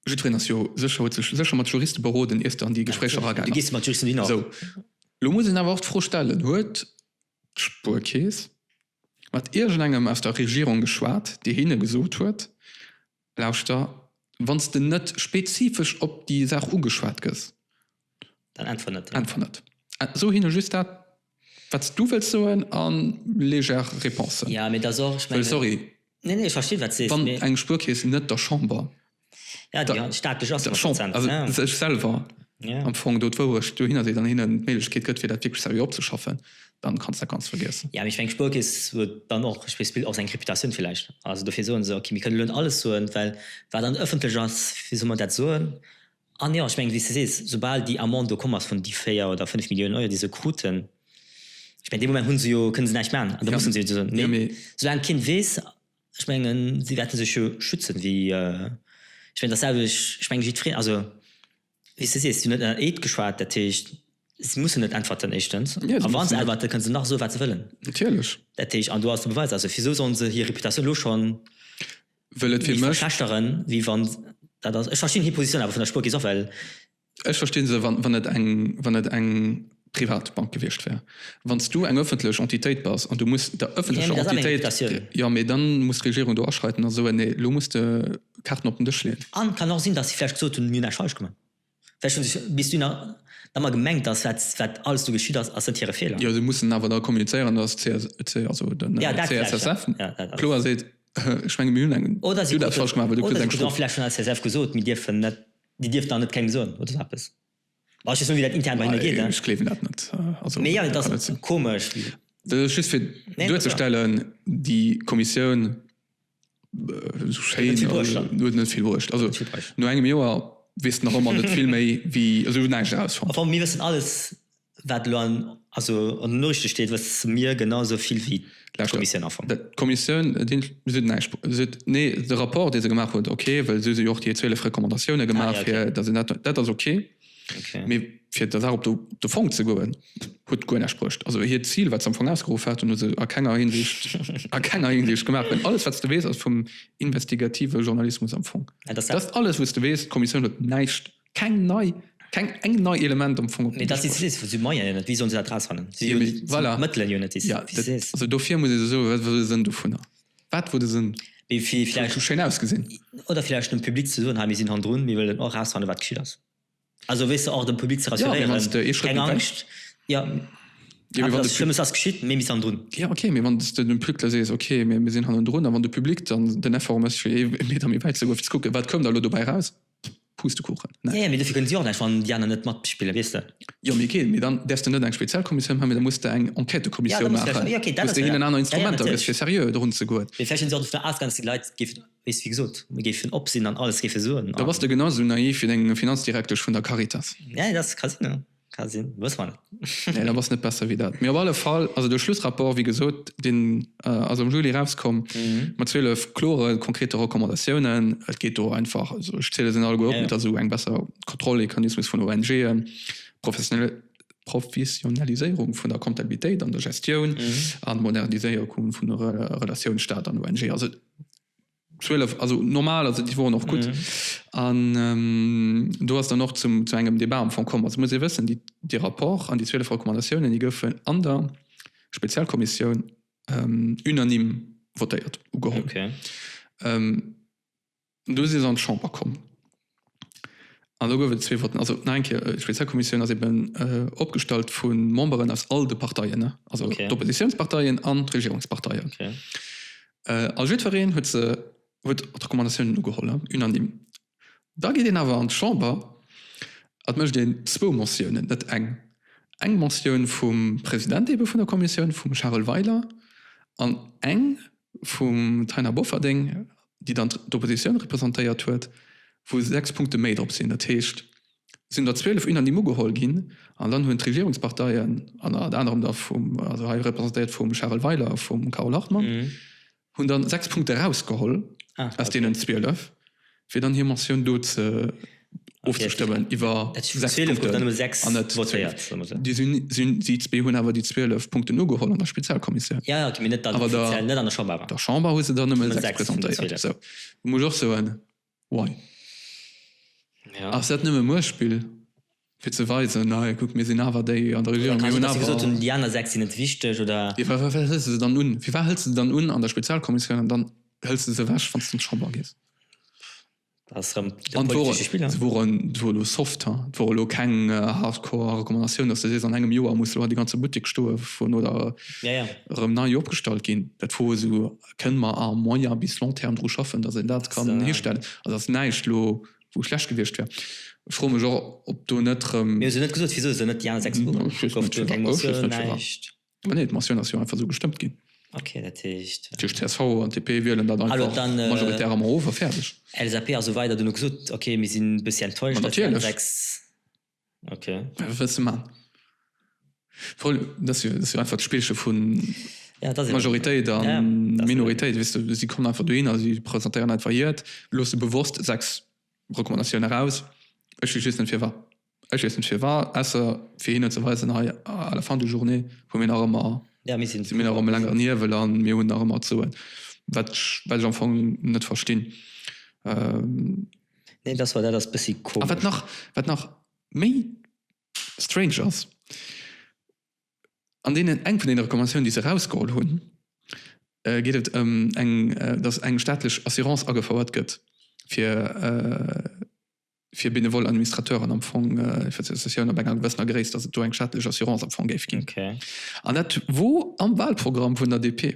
jiddwereen ass jo sécher, huet sech sécher mat Juriste beroden, ier s de an déi Gespréicher Du eragaan ass. gees mat Juristen hin och. Esou, lo muss een awer och d'Fro stellen, huet d'Spuerkeess mat iergendengem aus der Regierung geschwat, dee hinne gesot huet, Lauschter, wann s de net spezifesch op déi Saach ugeschwat gëss, dann äntwer net. Äntwer net. So hinne just dat, wat s du wëlls soen a léger Réponsen. Jo, mee et ass och, ech mengen. Well, sorry. Nee, nee, ech verstinn, wat s de sees, mee. Wann eng Spuerkeess net der Chamber. Ja, déi han staatlech ass. Ech schonn, also ech selwer am Fong do d'Wourecht dohinner seet an hinnen d'Méiglechkeet gëtt, fir dat wierklech seriö opzeschaffen, dann kannst dat Ganzt vergiessen. Jo, mee ech mengen, d'Spuerkeess huet dann och, ech weess, och seng Reputatioun villäicht. Also dofir soen se, okay, mir kënnen elo net alles soen, well wat dann ëffentlech ass, wéi solle mer dat soen? An jo, ech mengen, wéi s de sees, soubal déi Amende do komm ass vun déi véier oder fënnf Milliounen Euro, déi se kruten, ech mengen, dee Moment hu se jo, kënne se näischt maachen an da musse se jo soen. Mee soulaang keen weess, Ech mengen, si wäerte sech jo schützen, wéi, ech mengen datselwecht, ech mengen jiddwereen, also wéi s de sees, si hunn net ënner Eed geschwat, dat heescht, si mussen net äntwerten éischtens, a wa se äntwerten, kënne se nach soe wat se wëllen, dat heescht, an do ass de Beweis, also wisou sollen se hir Reputatioun elo schonn méi verschlechteren, wéi wann, dat ass, ech verstinn hir Positioun awer vun der Spuerkeess och, well. Ech verstinn se, wann et eng, wann et eng privat Bank gewiescht wär. Wann s du eng öffentlech Entitéit bass an du muss der öffentlecher Entitéit, jo, mee dann muss d'Regierung do aschreiten a soen, nee, elo muss de Kaarten op den Dësch leeën. A kann och sinn, dass si vläicht gesot hunn, mir hunn näischt falsch gemaach. Vläicht hu se bis dunn ëmmer gemengt, dass wat, wat alles do geschitt ass, ass net hire Feeler. Jo, se mussen awer da kommunizéieren, dass d'CSSF, also den CSSF, kloer seet, ech menge mir hunn eng, du hues dat falsch gemaach, well du kriss eng Strof. Oder se krute vläicht vun der CSSF gesot, mir dierfen net. Dir dierft nach net kengem soen oder sou eppes? Well ech just soen, wéi dat intern bei hinne geet. Ech gleewen dat net. Also, Mee jo, et ass komesch. Dat ass just fir duerzestellen, déi Kommissioun sou schéin huet net vill bruecht. Also no engem Joer weess de nach ëmmer net vill méi wéi, also ech hunn näischt erausfonnt. Mir wëssen alles. Wat elo an den Noriichte steet, wësse mir genau esou vill wéi d'Kommissioun am Fong. D'Kommissioun sot näischt. Se sot, nee, de Rapport, dee se gemaach huet, ok, well si hu jo och déi zwielef Recommandatioune gemaach, fir datt een dat. Dat ass ok. Mee fir der Saach op de Fong ze goen, huet guer näischt bruecht. Also hiert Zil, wat se am Fong ausgeruff haten, hu se a kenger Hinsicht, a kenger Hinsicht gemaach. Well alles, wat s de weess, ass vum investigative Journalismus am Fong. Dat ass alles, wou s de weess, d'Kommissioun huet näischt keng nei keng eng nei Element am Fong op si Moien net wéi sollen se dat rausfannen voilà Mëttelen jo net ja also dofir muss ech soe wat wor de Sënn dovunner wat wor de Sënn wéi vill vläicht scho schéin ausgesinn oder vläicht dem Public ze soen hei mir sinn hannendrun mir wëllen och rausfannen wat geschitt ass also weess de och dem Public ze rassurieren ja mee wann s de ee Schrëtt méi weit gehst ja jo mee wann de Pu Schlëmmes ass geschitt mee mir si hannendrun ja ok mee wann s de dem Public da sees ok mee mir sinn hannendrun a wann de Public dann den Effort mécht fir ee Meter méi wäit ze goen fir ze kucken wat koum da elo dobäi raus. Pustekuchen, ne? Jo, mee dofir kënnen si och näischt, wann déi aner net matspillen, weess de. Jo, mee okay, mee dann däerfs de net eng speziell Kommissioun maachen, mee da muss de eng Enquêtëkommissioun maachen, wou s de hinnen aner Instrumenter gëss, fir seriö dorun ze goen. Mee vläicht sinn si och dovunner ausgaangen, datt déi Leit géifen, wéi s de gesot, géifen op sinn an alles géife soen. Da bass de genau esou naiv wéi deng Finanzdirektesch vun der Caritas. Jo, dat ka sinn, jo. Ka sinn, wësse mer net. Nee, dat ass net besser wéi dat. Mee op alle Fall, also de Schlussrapport, wéi gesot, deen ass am Juli erauskomm, mat 12 klore, konkrete Recommandatiounen. Et geet do einfach, also ech ziele se net all guer op, mee dass esou eng besser Kontrollmechanismus vun ONGen, Professionaliséierung vun der Comptabilitéit an der Gestioun an Moderniséierung vun der Relatioun Staat an ONG. Also 12, also normal, also déi woren och gutt. An do ass dann och zum, zu engem Debat am Fong komm. Also muss ee wëssen, déi, dee Rapport an déi 12 Recommandatiounen, déi goufen an der Spezialkommissioun unanime votéiert, ugeholl. Do si se an d'Chamber komm. An elo gouf et zwee Votten. Also, nach eng Kéier, D'Spezialkommissioun ass eben opgestallt vu Memberen aus all de Parteien, also d'Oppositiounsparteien an d'Regierungsparteien. A jiddwereen huet se, huet d'Recommandatiounen ugeholl, unanime. Da geet een awer an d'Chamber a mécht een zwou Motiounen, net eng. Eng Motioun vum President ebe vun der Kommissioun, vum Charel Weiler, an eng vum Taina Bofferding, déi dann d'Oppositioun representéiert huet, wou 6 Punkte méi drop sinn. Dat heescht, et sinn der 12 unanime ugeholl ginn. An dann hunn d'Regierungsparteien, ënnert anerem da vum, also hei representéiert vum Charel Weiler a vum Carole Hartmann, hunn dann 6 Punkte erausgeholl aus deenen 12. fir dann hir Motioun do ofzestëmmen iwwer sechs Punkten. Déi zwee hunn awer déi zwielef Punkten ugeholl an der Spezialkommissioun. An der Chamber hu se der nëmme sechs presentéiert. Wou ech och soen, why? Ass dat nëmme Muechtspill? Fir ze weisen, hei kuckt, mir sinn awer déi an der Regierung, mir hunn awer. An déi aner sechs sinn net wichteg, oder? Jo, firwat hëls de se dann un? Firwat hëls de se dann un an der Spezialkommissioun an dann hëls de se ewech, wann s de an d'Chamber gees? Dat ass erëm de politesche Spiller. Se wor elo soft, ha. Et wor elo keng hardcore Recommandatioun, dass de sees, an engem Joer muss elo déi ganze Buttek stoe vun oder erëm nei opgestallt ginn. Dat wor esou, kënne mer à moyen bis long terme dru schaffen, dass een dat kann histellen? Also, et ass näischt elo. wou schlecht gewiescht wär. Ech froe mech och, ob do net erëm. Mir hu jo net gesot, wisou se net déi aner 6 Bureauen ofgeschaaft hunn, keng Motioun, näischt. Mä nee, d'Motioun ass jo einfach esou gestëmmt ginn. Ok, dat heescht. Dat heescht, csv an DP wielen dat einfach majoritär erëm erof a fäerdeg. LSAP a sou weider, dunn hu gesot, ok, mir sinn e bëssi enttäuscht, datt déi aner 6. Okay. Wat wëlls de maachen? Voll, dat ass jo einfach d'Spillche vu Majoritéit a Minoritéit. Weess de, si kommen einfach dohinner a si presentéieren einfach hiert, loosse bewosst sechs Recommandatioune raus. Ech weess just net firwat. Ech weess net firwat, ausser fir hinnen ze weisen, hei, à la fin de journée hu mir nach ëmmer, si mir nach ëm e längeren Hiewel a mir hunn nach ëmmer ze soen. Wat ech am Fong net verstinn. Nee, dass war dat ass bëssi komesch. A wat nach, wat nach méi strange ass, an deenen, eng vun deene Recommandatiounen, déi se erausgeholl hunn, geet et ëm eng, dass eng staatlech Assurance agefouert gëtt fir, fir benevole Administrateuren am Fong, fir d'Associatioun ab enger gewëssener Gréisst, dass et do eng staatlech Assurance am Fong géif ginn. An dat wor am Wahlprogramm vun der DP.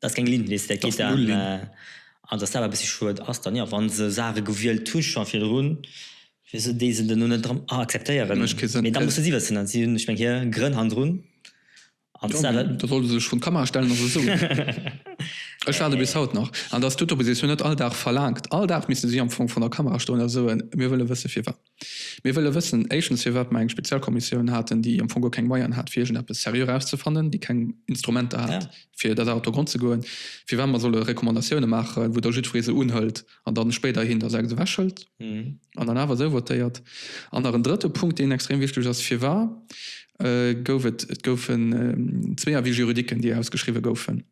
Dat ass keng Lintlist, dat geet dann, an datt dat e bëssi schued ass dann, jo, wa se Saache gewielt hu scho virdrun, wisou déi se dann elo net erëm akzeptéieren? Mee da muss se si wëssen an si hunn, ech meng, hir Grënn hannendrun. An da solle se sech vrun d'Kamera stellen a se soen. Ech waarde bis haut nach, an datt d'Oppositioun net all Dag verlaangt, all Dag misste si am Fong vrun der Kamera stoen a soen, mir wëlle wësse firwat. Mir wëlle wëssen, éischtens, firwat mer eng Spezialkommissioun haten, déi am Fong guer keng Moyen hat, fir iergendeppes seriö erauszefannen, déi keng Instrumenter hat, fir där Saach op de Grond ze goen, firwat mer solle Recommandatiounen maachen, wou da jiddweree se unhëlt an dann spéiderhin da sechs ewechhëlt an dann awer esou votéiert. An nach en drëtte Punkt, deen extrem wichteg ass, Firwat gouf et, et goufen zwee Avis juridiquen, déi ausgeschriwwen goufen,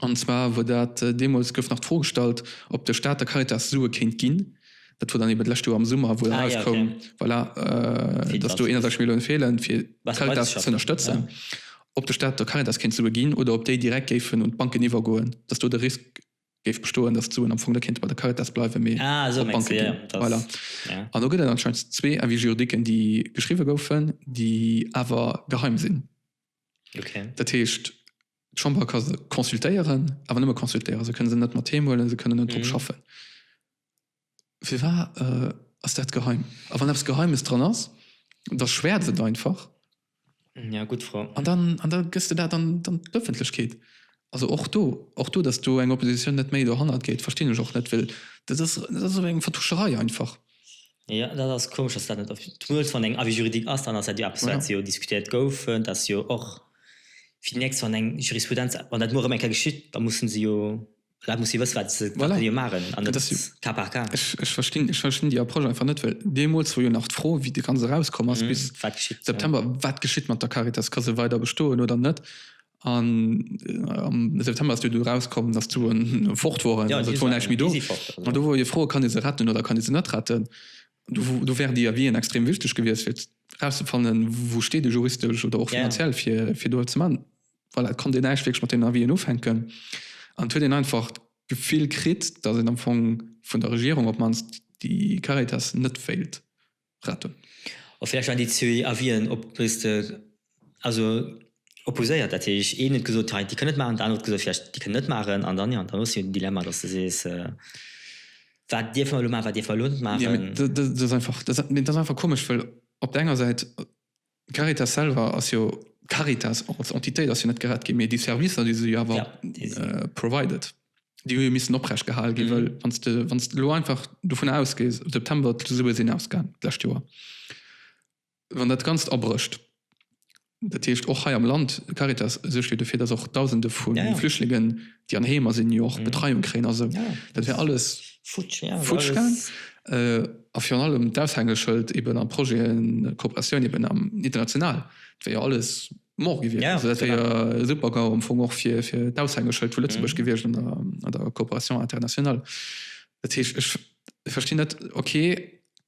An zwar wor dat, deemools gouf nach d'Fro gestallt, ob de Staat der Caritas Sue kéint ginn. Dat wor dann eeben d'lescht Joer am Summer, wou dann erauskoum, voilà, dass do 31 Milliounen feelen, fir d'Caritas z'ënnerstëtzen. Ob de Staat der Caritas kéint Sue ginn oder ob déi direkt géifen un d'Banken iwwergoen, dass do de Risk géif bestoen, dass d'Suen am Fong net kéinte bei der Caritas bleiwen, mee op d'Banke ginn. Voilà. An do gëtt et anscheinend zwee Avis juridiques, déi geschriwwe goufen, déi awer geheim sinn. Dat heescht. D'Chamber ka se consultéieren, awer nëmme consultéieren. Se kënne se net mat heem huelen, se kënnen net drop schaffen. Firwat ass dat geheim? A wann eppes Geheimes dran ass, da schwäerz et einfach. Ja, gutt Fro. An dann, an da gëss de dat an d'Ëffentlechkeet. Also och do, och do, datt do eng Oppositioun net méi dohannert geet, verstinn ech och net, well dat ass, dat ass esou eng Vertuscherei einfach. Jo, dat ass komesch, dass dat net op d'Muels, wann eng Avis juridique ass, dann ass dat jo eppes, wat jo diskutéiert gouf. Dat ass jo och fir déi nächst, wann eng Jurisprudenz, wann dat muer erëm eng Kéier geschitt, da mussen se jo, d'Leit musse jo wësse wat se jo maachen an net cas par cas. Ech, ech verstinn, ech verstinn déi Approche einfach net, well deemools wor jo nach d'Fro, wéi de Ganze rauskomm ass, bis September, wat geschitt mat der Caritas, ka se weider bestoen oder net? An am September ass jo du erauskomm, datt d'Suen fort woren, also et wor näischt méi do. An do wor jo d'Fro, kann ee se retten oder kann ee se net retten? Do wär dir Avien extrem wichteg gewiescht, fir erauszefannen, wou steet ee juristesch oder och finanziell, fir do eppes ze maachen. Voilà, et konnt een näischt wierklech mat deenen Avien ufänken. An et huet een einfach d'Gefill kritt, datt een am Fong vun der Regierung op d'mannst déi Caritas net wéilt. retten. A vläicht nach déi zwee Avisen op dës de also opposéiert, dat heescht een huet gesot, hei déi kënnen et maachen, den anere huet gesot, vläicht déi kënnen et net maachen an dann, jo, dann hues du jo den Dilemma, datt s de sees, wat dierfe mer elo maachen, wat dierfe mer elo net maachen. Dat ass einfach komesch, well op der enger Säit D'Caritas selwer ass jo, d'Caritas als Entitéit ass jo net gerett ginn, mee déi Servicer, déi se jo awer provided, déi hu jo missen oprecht gehal ginn. Well wann s de, wann s de elo einfach dovun ausgees, am September, d'Sue sinn ausgaang d'lescht Joer, wann dat Ganzt abrécht, dat heescht och hei am Land, d'Caritas suergt jo dofir, dass och Dausende vu Flüchtlingen, déi an Heemer sinn, jo och Betreiung kréien a sou, dat wär alles futsch gaang. A virun allem d'Aushängeschëld eeben a Projeten, Kooperatioun eeben am international, dat wär jo alles mort gewiescht. Also dat wär jo e Super-GAU am Fong och fir d'Aushängeschëld vu Lëtzebuerg gewiescht an der Kooperatioun international. Dat heescht, ech verstinn net, ok,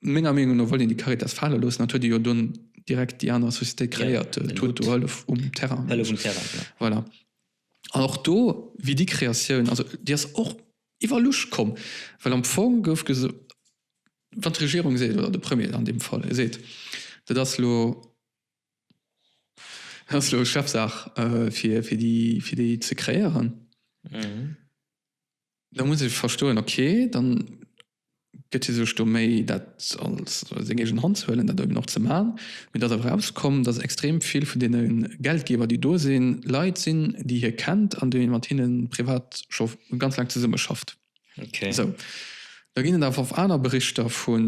menger Meenung no wollt een déi Caritas fale loossen, dat huet ee jo dunn direkt déi aner Société kréiert, d'Toute Hëllef um Terrain. Hëllef um Terrain, genau. Voilà. An och do wier déi Kreatioun, also déi ass och iwwer Luucht komm, well am Fong gouf gesot, wann d'Regierung seet, oder de Premier an deem Fall seet, dat ass elo Chefsaach fir déi ze kreéieren, Da muss ee verstoen, ok, da gëtt hie sech do méi dat als seng eegen Hand ze huelen, dat eben och ze man. Mee et ass awer erauskomm, datt extrem vill vun deene Geldgeber, déi do sinn, Leit sinn, déi hie kennt an déi mat hinne privat scho ganz laang zesummeschafft. Esou, da ginn et awer och aner Berichter vu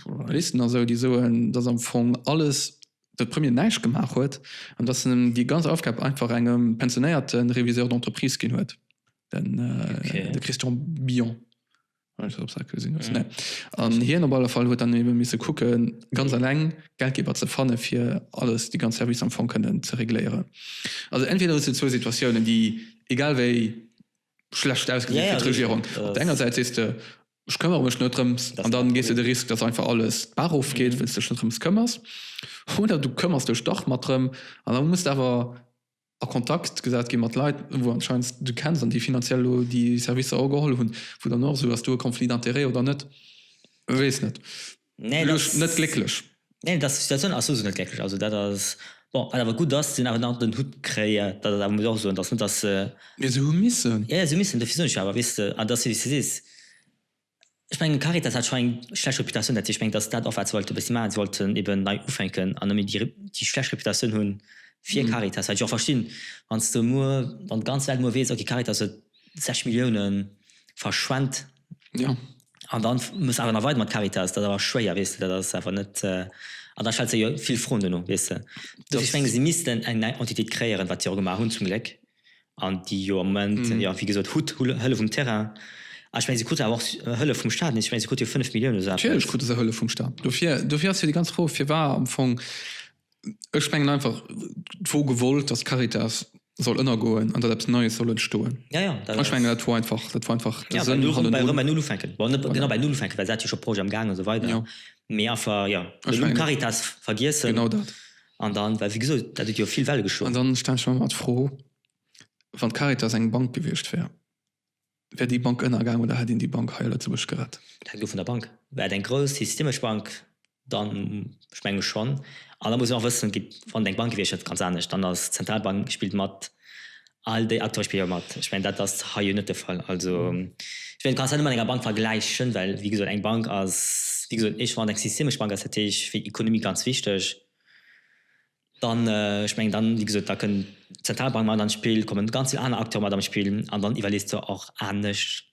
Journalisten a sou, déi soen, datt am Fong alles de Premier näischt gemaach huet an datt en déi ganz Aufgab einfach engem pensionéierte Réviseur d'entreprise ginn huet, de Christian Billon. An hien op alle Fall huet dann ebe misse kucke ganz eleng Geldgeber ze fanne fir alles, déi ganz Servicer am Fong kënnen ze regléieren. Also entweder huet se zwou Situatiounen, déi egal wéi schlecht ausgesinn fir d'Regierung. Op der enger Säit sees de, ech këmmere mech net drëms an dann gees de de Risk, datt einfach alles d'Bar ofgeet, well s dech net drëms këmmers. Oder du këmmers dech dach mat drëm an da muss de awer a Kontakt gesat gi mat Leit, wou s anscheinend du kenns an déi finanziell elo déi Servicer ugeholl hunn, wou dann och esou ass, As du e Conflit d'intérêt oder net? Weess net. Nee, Elo ass net glécklech. Nee, dass Situatioun ass souso net glécklech. Also dat ass bon, wat awer gutt ass, se hunn awer nach den Hutt kréie, dat ass awer muss och soen, dass net dass se. Mee se hu missen. Jo, jo, se hu missen, dofir soen ech jo awer, weess de, an et ass wéi s de sees, ech mengen d'Caritas hat scho eng schlecht Reputatioun, dat heescht, ech mengen dass dat och wat se wollte e bëssi maachen, se wollten eben nei ufänken an nëmme déi déi schlecht Reputatioun hu fir d'Caritas, wat ech och verstinn, wann s de muer, wann d'ganz Welt muer weess, okay, d'Caritas huet 60 Milliounen verschwent. Jo. An dann muss awer nach weider mat Caritas, dat ass awer schwéier, weess de, dat ass awer net, an da stellt sech jo vill Froen duerno, weess de. Dofir, ech menge si missten eng nei Entitéit kréieren, wat si och gemaach hunn zum Gléck, an déi jo am Moment, jo wéi gesot, hutt Hëllef um Terrain, a ech menge si krute awer och Hëllef vum Staat, nees, ech menge si krute jo 5 Milliounen oder esou eppes. Natierlech krute se Hëllef vum Staat, dofir, dofir ass jo déi ganz Fro firwat am Fong Ech mengen einfach, d'wor gewollt, dass d'Caritas soll ënnergoen an datt eppes Neies soll entstoen. Ja, ja, dat ass. Ech mengen, dat wor einfach, dat wor einfach de Sënn hannendrun. Ja, bei erëm bei Null ufänken. Bon, net genau bei Null ufänken, well se hat jo scho Projet am Gaang an esou weider. Jo. Mee einfach, jo, de Numm Caritas vergiessen. Genau dat. An dann, well wéi gesot, dat huet jo vill Welle geschloen. An dann stellen ech mer awer d'Fro, Wann d'Caritas eng Bank gewiescht wär, Wär déi Bank ënnergaang oder hätt een déi Bank hei a Lëtzebuerg gerett? Dat hänkt of vun der Bank. Wär et eng grouss systemesch Bank, dann, ech menge schonn. An da muss een och wëssen, gitt, wann et eng Bank gewiescht hätt, ganz anescht, dann ass d'Zentralbank spillt mat, all déi Acteure spille jo mat. Ech mengen, dat ass hei jo net de Fall. Also, ech mengen, du kanns dat net mat enger Bank vergläichen, well, wéi gesot, eng Bank ass, wéi gesot, éischt, wann et eng systemesch Bank ass, dat heescht fir d'Ekonomie ganz wichteg. Dann, ech mengen dann, wéi gesot, da kënn d'Zentralbank mat an d'Spill, komme ganz vill aner Acteure mat an d'Spill an dann iwwerlees de och anescht.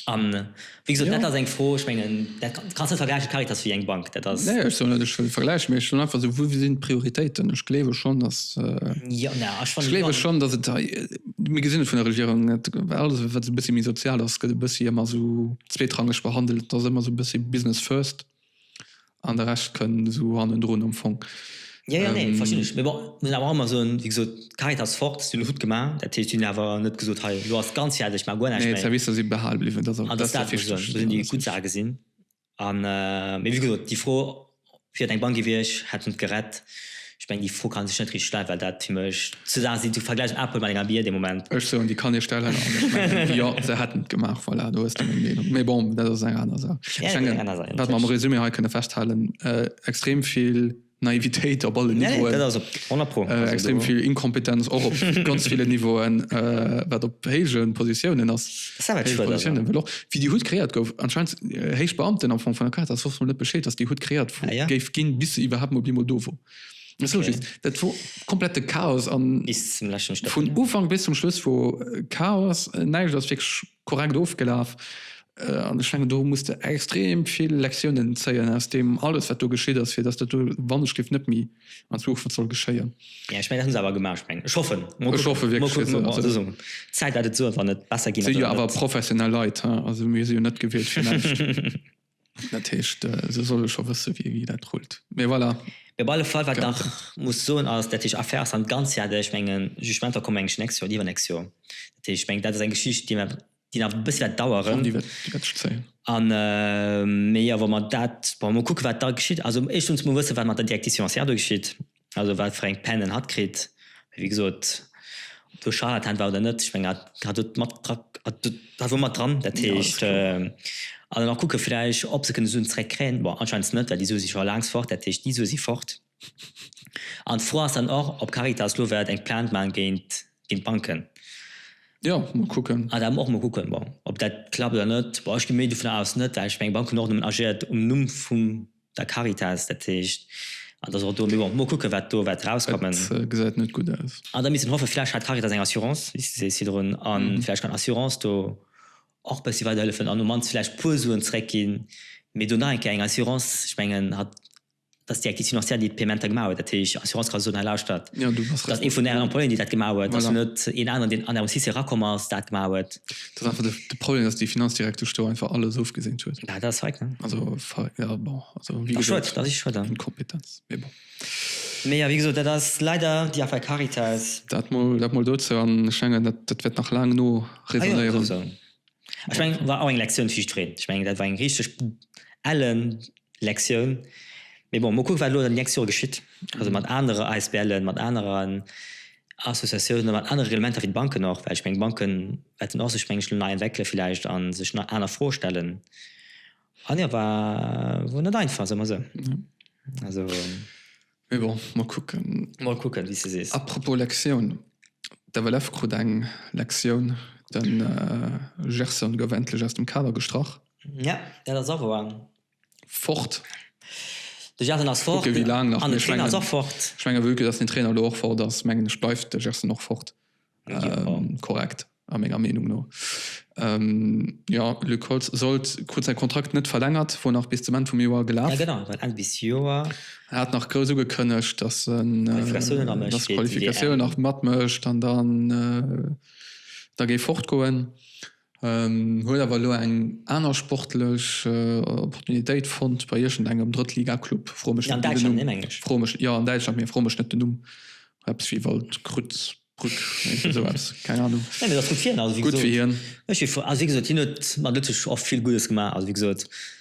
A wéi gesot, dat ass eng Fro, ech mengen, dat kanns net vergläichen, d'Caritas wéi eng Bank. Dat ass. Nee, ech soen net, ech wëll et vergläichen, mee ech soen einfach esou, wou sinn d'Prioritéiten? Ech gleewe schonn, datt, ech gleewe schonn, datt et, mir gesinn et vun der Regierung net, alles, wat esou e bëssi méi sozial ass, gëtt e bëssi ëmmer esou zweetrangeg behandelt. Et ass ëmmer esou e bëssi Business first. An de Rescht kënn esou hannendrun am Fong. Jo, jo, nee, verstinn ech. Mee bon, muss een awer och emol soen, wéi gesot, d'Caritas fort, si lo gutt gemaach. Dat heescht, si hunn awer net gesot, hei, elo ass ganz fäerdeg, maacht guer näischt méi. Nee, d'Servicer si behale bliwwen, dat ass dat Wichtegst. Dat ass dat, wou ech soen, do sinn déi gutt Saache gesinn. Mee wéi gesot, déi Fro, wier et eng Bank gewiescht, hätt en et gerett. Ech mengen déi Fro kann sech net richteg stellen, well dat fir mech zwou Saache sinn. Du vergläichs eng Apple mat enger Bier dee Moment. Ech soen, déi kann ee stellen, an ech mengen, jo, se hätten et gemaach. Voilà, do hues de meng Meenung. Mee bon, dat ass eng aner Saach. Ech mengen, wat mer am Resumé hei kënne festhalen, extrem vill Naivitéit op allen Niveauen, extrem vill Inkompetenz och op ganz villen Niveauen, wat op héije Positiounen ass. Savage war dat, ja. Wéi déi Hutt kreéiert gouf, anscheinend héich Beamten am Fong vun der Caritas wosste mol net Bescheed, dass déi Hutt kreéiert ah, ja. géif ginn, bis se iwwerhaapt mol bimol do wor. Okay. Dat wor komplette Chaos an vun Ufank bis zum Schluss wor äh, Chaos, äh, näicht ass fix korrekt ofgelaf. Äh, an de Schengen do musste extrem vill Lektiounen zéien aus dem alles wat do geschitt ass, fir dass dat do wann ech gift net méi. an zwar och wat soll geschéien. Ja, ech mengen dat hunn se awer gemaach. Ech mengen, ech hoffen, mol kucken, mol kucken, mol kucken, mol kucken, also d'Zäit wäert et soen, wann et besser ginn ass oder net. Si jo awer professionell Leit, he, also mir si jo net gewielt fir näischt. Dat heescht, se solle scho wësse wéi dat rullt, mee voilà. Mee op alle Fall, wat nach muss soen ass, dat heescht Affaires an Ganzheet, ech mengen, Jugementer kommen englech nächst Joer oder iwwernächst Joer, dat heescht, ech mengen, dat ass eng Geschicht, déi mer, déi nach e bëssi wäert daueren. An déi wäert sech zéien. Mee jo, wa mer dat, wa mer mol kucken, wat da geschitt. Also éischtens muss mer wëssen, wat mat der Directive financière do geschitt, also wat fir eng Peinen hatt kritt. Wéi gesot, ob do Charlatan war oder net, ech mengen, hatt hat do mat dra, hat do, war wou mat dran. Dat heescht, also nach kucke vläicht, ob se kënne Suen zréckkréien. Bon, anscheinend net, well déi Sue si scho laangs fort. Dat heescht, déi Sue si fort. An d'Fro ass dann och, ob Caritas elo wäert eng Plainte maachen géint d'Banken. Jo, mol kucken. Ah, dat muss mer och mol kucken, bon, ob dat klappt oder net. Bon, ech gi méi dovunner aus net, well ech mengen, d'Bank hunn och nëmmen agiert um Numm vum der Caritas. Dat heescht, an dass och do, mee bon, mol kucken, wat do wäert erauskommen. Dat gesäit net gutt aus. An da misst een hoffen, vläch hat d'Caritas eng Assurance, wéi s de sees, virdrun, a vläch kann d'Assurance do och e bëssi weiderhëllefen an um mannst vläch e puer Suen zeréckginn. Mee do nach eng Kéier, eng Assurance, ech mengen, hat dass déi Acquisition ancienne, déi d'Paiementer gemaach huet, dat heescht Assurance ka soen, hei lauschtert, dass ee vun Ären Employéen, déi dat gemaach huet, dass net een aneren, deen an Ärem Sise erakomm ass, dat gemaach huet. Dat ass einfach de Problem, dass déi Finanz direkt do sto einfach alles ofgeseent huet. Dat ass feig, ne? Also feig, ja bon, also wéi gesot. Schued, dat ass schued, ja. Inkompetenz, mee bon. Mee jo, wéi gesot, dat ass leider déi Affaire Caritas. Dat mol, dat mol dozou. An ech mengen, dat wäert nach laang no resonéieren. Ech mengen, war och eng Lektioun fir jiddwereen. Ech mengen, dat war eng richteg ellen Lektioun. Mee bon, mol kucken, wat elo an den nächste Jore geschitt, also mat anere ASBLen, mat aneren Associatiounen, mat anere Reglementer fir d'Banken och. Well ech mengen, d'Banke wäerten och sech, meng ech, elo nei entwéckele villäicht a sech nach aner Froe stellen. An jo, war, wor net einfach, soe mer esou. Also. Mee bon, mer kucken. Mol kucken, wéi s de sees. Apropos Lektioun, d'FLF krut eng Lektioun, De Gerson gouf endlech aus dem Kader gestrach. Ja, dat ass och wouer. Fort. De Gerson ass fort. Kucke wéi laang nach. An de Trainer ass och fort. Ech menge, vu que dass den Trainer elo och fort ass, mengen ech, bleift de Gerson och fort. Korrekt, a menger Meenung no. Jo, Luc Holtz sollt, krut säi Kontrakt net verlängert, wor nach bis zum Enn vum Joer gelaf. Ja genau, war Enn bis Joer. En hat nach grouss ugekënnegt, dass en d'Qualifikatioune nach matmécht an dann da géif fortgoen. Huet awer elo eng aner sportlech Opportunitéit fonnt bei iergend engem Drëttliga-Club. Fro mech net den Numm. Fro mech, jo an Däitschland, mee fro mech net den Numm. Eppes wéi Waldkruz, Brück, iergend esou eppes, keng Anung. Nee, mee dat ass gutt fir hien. Gutt fir hien. Ech si frou. Also wéi gesot, hien huet mat Lëtzebuerg och vill Guddes gemaach. Also wéi gesot.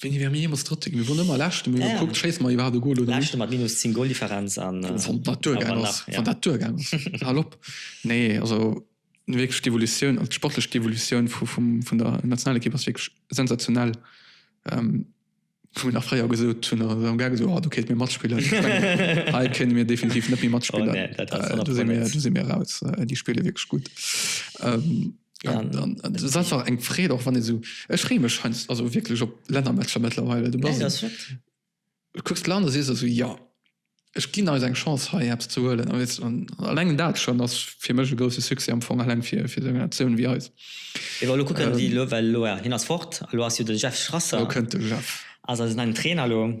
Wéini wäre mir jeemools Drëtte ginn? Mir woren ëmmer Leschten, mee hu gekuckt, schéisse mer iwwerhaapt e Gol oder net. Leschte mat minus 10 Goldifferenz an wann dat duergaangen ass, wann dat duergaangen ass, hal op. Nee, also wierklech d'Evolutioun, also d'sportlech d'Evolutioun vun der Nationalekipp ass wierklech sensationell. Wou mir nach fréier gesot hunn, da hu mir gär gesot, oh do kéinte mir matspillen. Hei kéinte mir definitiv net méi matspillen, do si mir eraus, déi spille wierklech gutt. Ja, das ist einfach eng Freed och wann so Ech freem mech scheinst also wirklich op Lännermatcher mittlerweile du nee, das kucks Land si so ja Ech ginn als eng Chance hei Apps zu huelen an alleng dat schon ass fir mech e grosse Suse am Fong alleng fir fir seng Nationun wie eis. Ech war lo kucken ähm, déi lo well lo hin ass fort lo ass jo de Jeff Strasser. Lo kënnt de Jeff. Also ass en Trainer lo.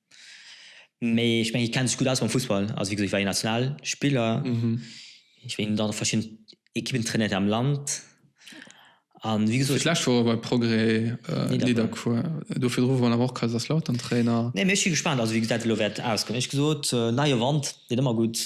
Mee ech mengen hie kennt sech gutt aus mam Fussball. Also wéi gesot hie war jo Nationalspiller. Hie war dann och verschidden Ekippen trainiert am Land. An wéi gesot. Fir d'lescht wor e bei Progrès Nidderkuer. Do virdru wor en awer och Kaiserslautern Trainer. Nee mee ech si gespaant also wéi dat elo wäert ausgoen. Wéi gesot, neie Wand deet ëmmer gutt.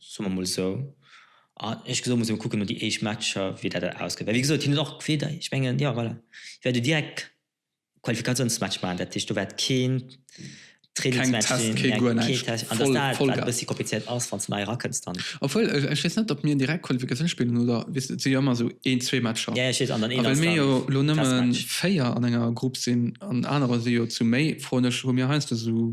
Soe mer mol esou. A eescht gesot, muss ee mol kucken no déi éischt Matcher, wéi dat dat ausgeet. Well wéi gesot, hien huet och weder, ech mengen, jo voilà, hie wäert jo direkt e Qualifikatiounsmatch maachen. Dat heescht, do wäert keen Trainingsmatch sinn, kee Test, keen guer näischt. An dass dat, wat e bëssi komplizéiert ass, wann s de nei erakënns dann. Obwuel, ech weess net, ob mir direkt Qualifikatioun spillen oder, weess de, et si jo ëmmer esou een, zwee Matcher. Jo, jo, ech weess. An dann een ass dann Testmatch. A well mir jo elo nëmme véier an enger Grupp sinn an anerer si jo zu méi, froen ech, hu mir heiansdo esou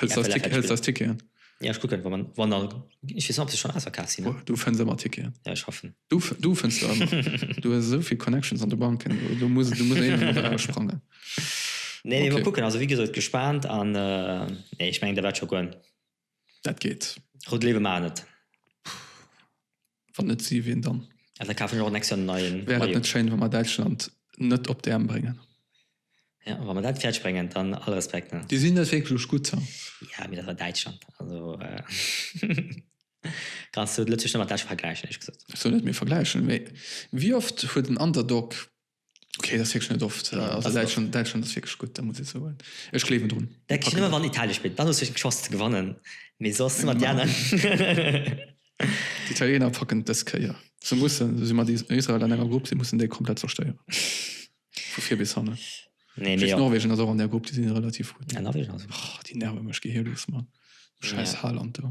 Hëls ders Tick, hëls ders Ticketen. Ja, ech kucken, wann, wann er, ech weess net, ob se schonn ausverkaaft sinn. Du fënns ëmmer Ticketen. Ja, ech hoffen. Du, du fënns se ëmmer. du hues esou vill Connections an de Banken, do muss, do muss een ëmmer eraussprangen. Nee, nee, okay. Mal kucken, also wéi gesot, gespaant an äh, nee, ech mengen, dat wäert scho goen. Dat geet. Rout Léiwe maachen et. Wann net si, ween dann? Ja, da kafen ech och nächst Joer en neien Wäer et Maillot. net schéin, wa mer Däitschland net op d'EM bréngen? Ja, wa mer dat fäerdeg bréngen, dann all Respekt, ne? Déi sinn net wierklech gutt, ha? Ja, mee dat war Däitschland. Also, äh, kanns du Lëtzebuerg net mat Däitschland vergläichen, éierlech gesot. Ech soen net, mir vergläichen, mee wéi oft huet en Underdog Okay, dat ass wierklech net oft. Nee, also Däitschland, Däitschland ass wierklech gutt, da muss ech soen. Ech gleewen drun. Da kriss ëmmer wann Italie spillt, dann hues du eng Chance ze gewannen, mee soss mat déi aner. D'Italiener packen et dës Kéier. Se mussen, si si mat Israel an enger Grupp, si mussen déi komplett zerstéieren. Vu vir bis hanne. Nee, mee jo. Norwegen ass och an där Grupp, déi si relativ gutt. Ja, Norwegen ass. Oh, déi nerve mech, geh hir lues, Mann. Schäiss ja. Haaland do.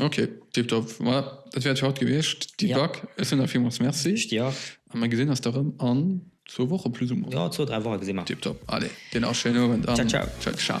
Ok, tip top. Voilà, dat wär et fir haut gewiescht. Di ja. Back, ech soen der villmools Merci. Ech dir och. A mer gesinn eis da rëm an zwou Woche plus ou moins. Jo, zwou, dräi Woche gesi mer. Tip top. Allez, dir nach e schéinen Owend an. Ciao, ciao. Ciao, ciao.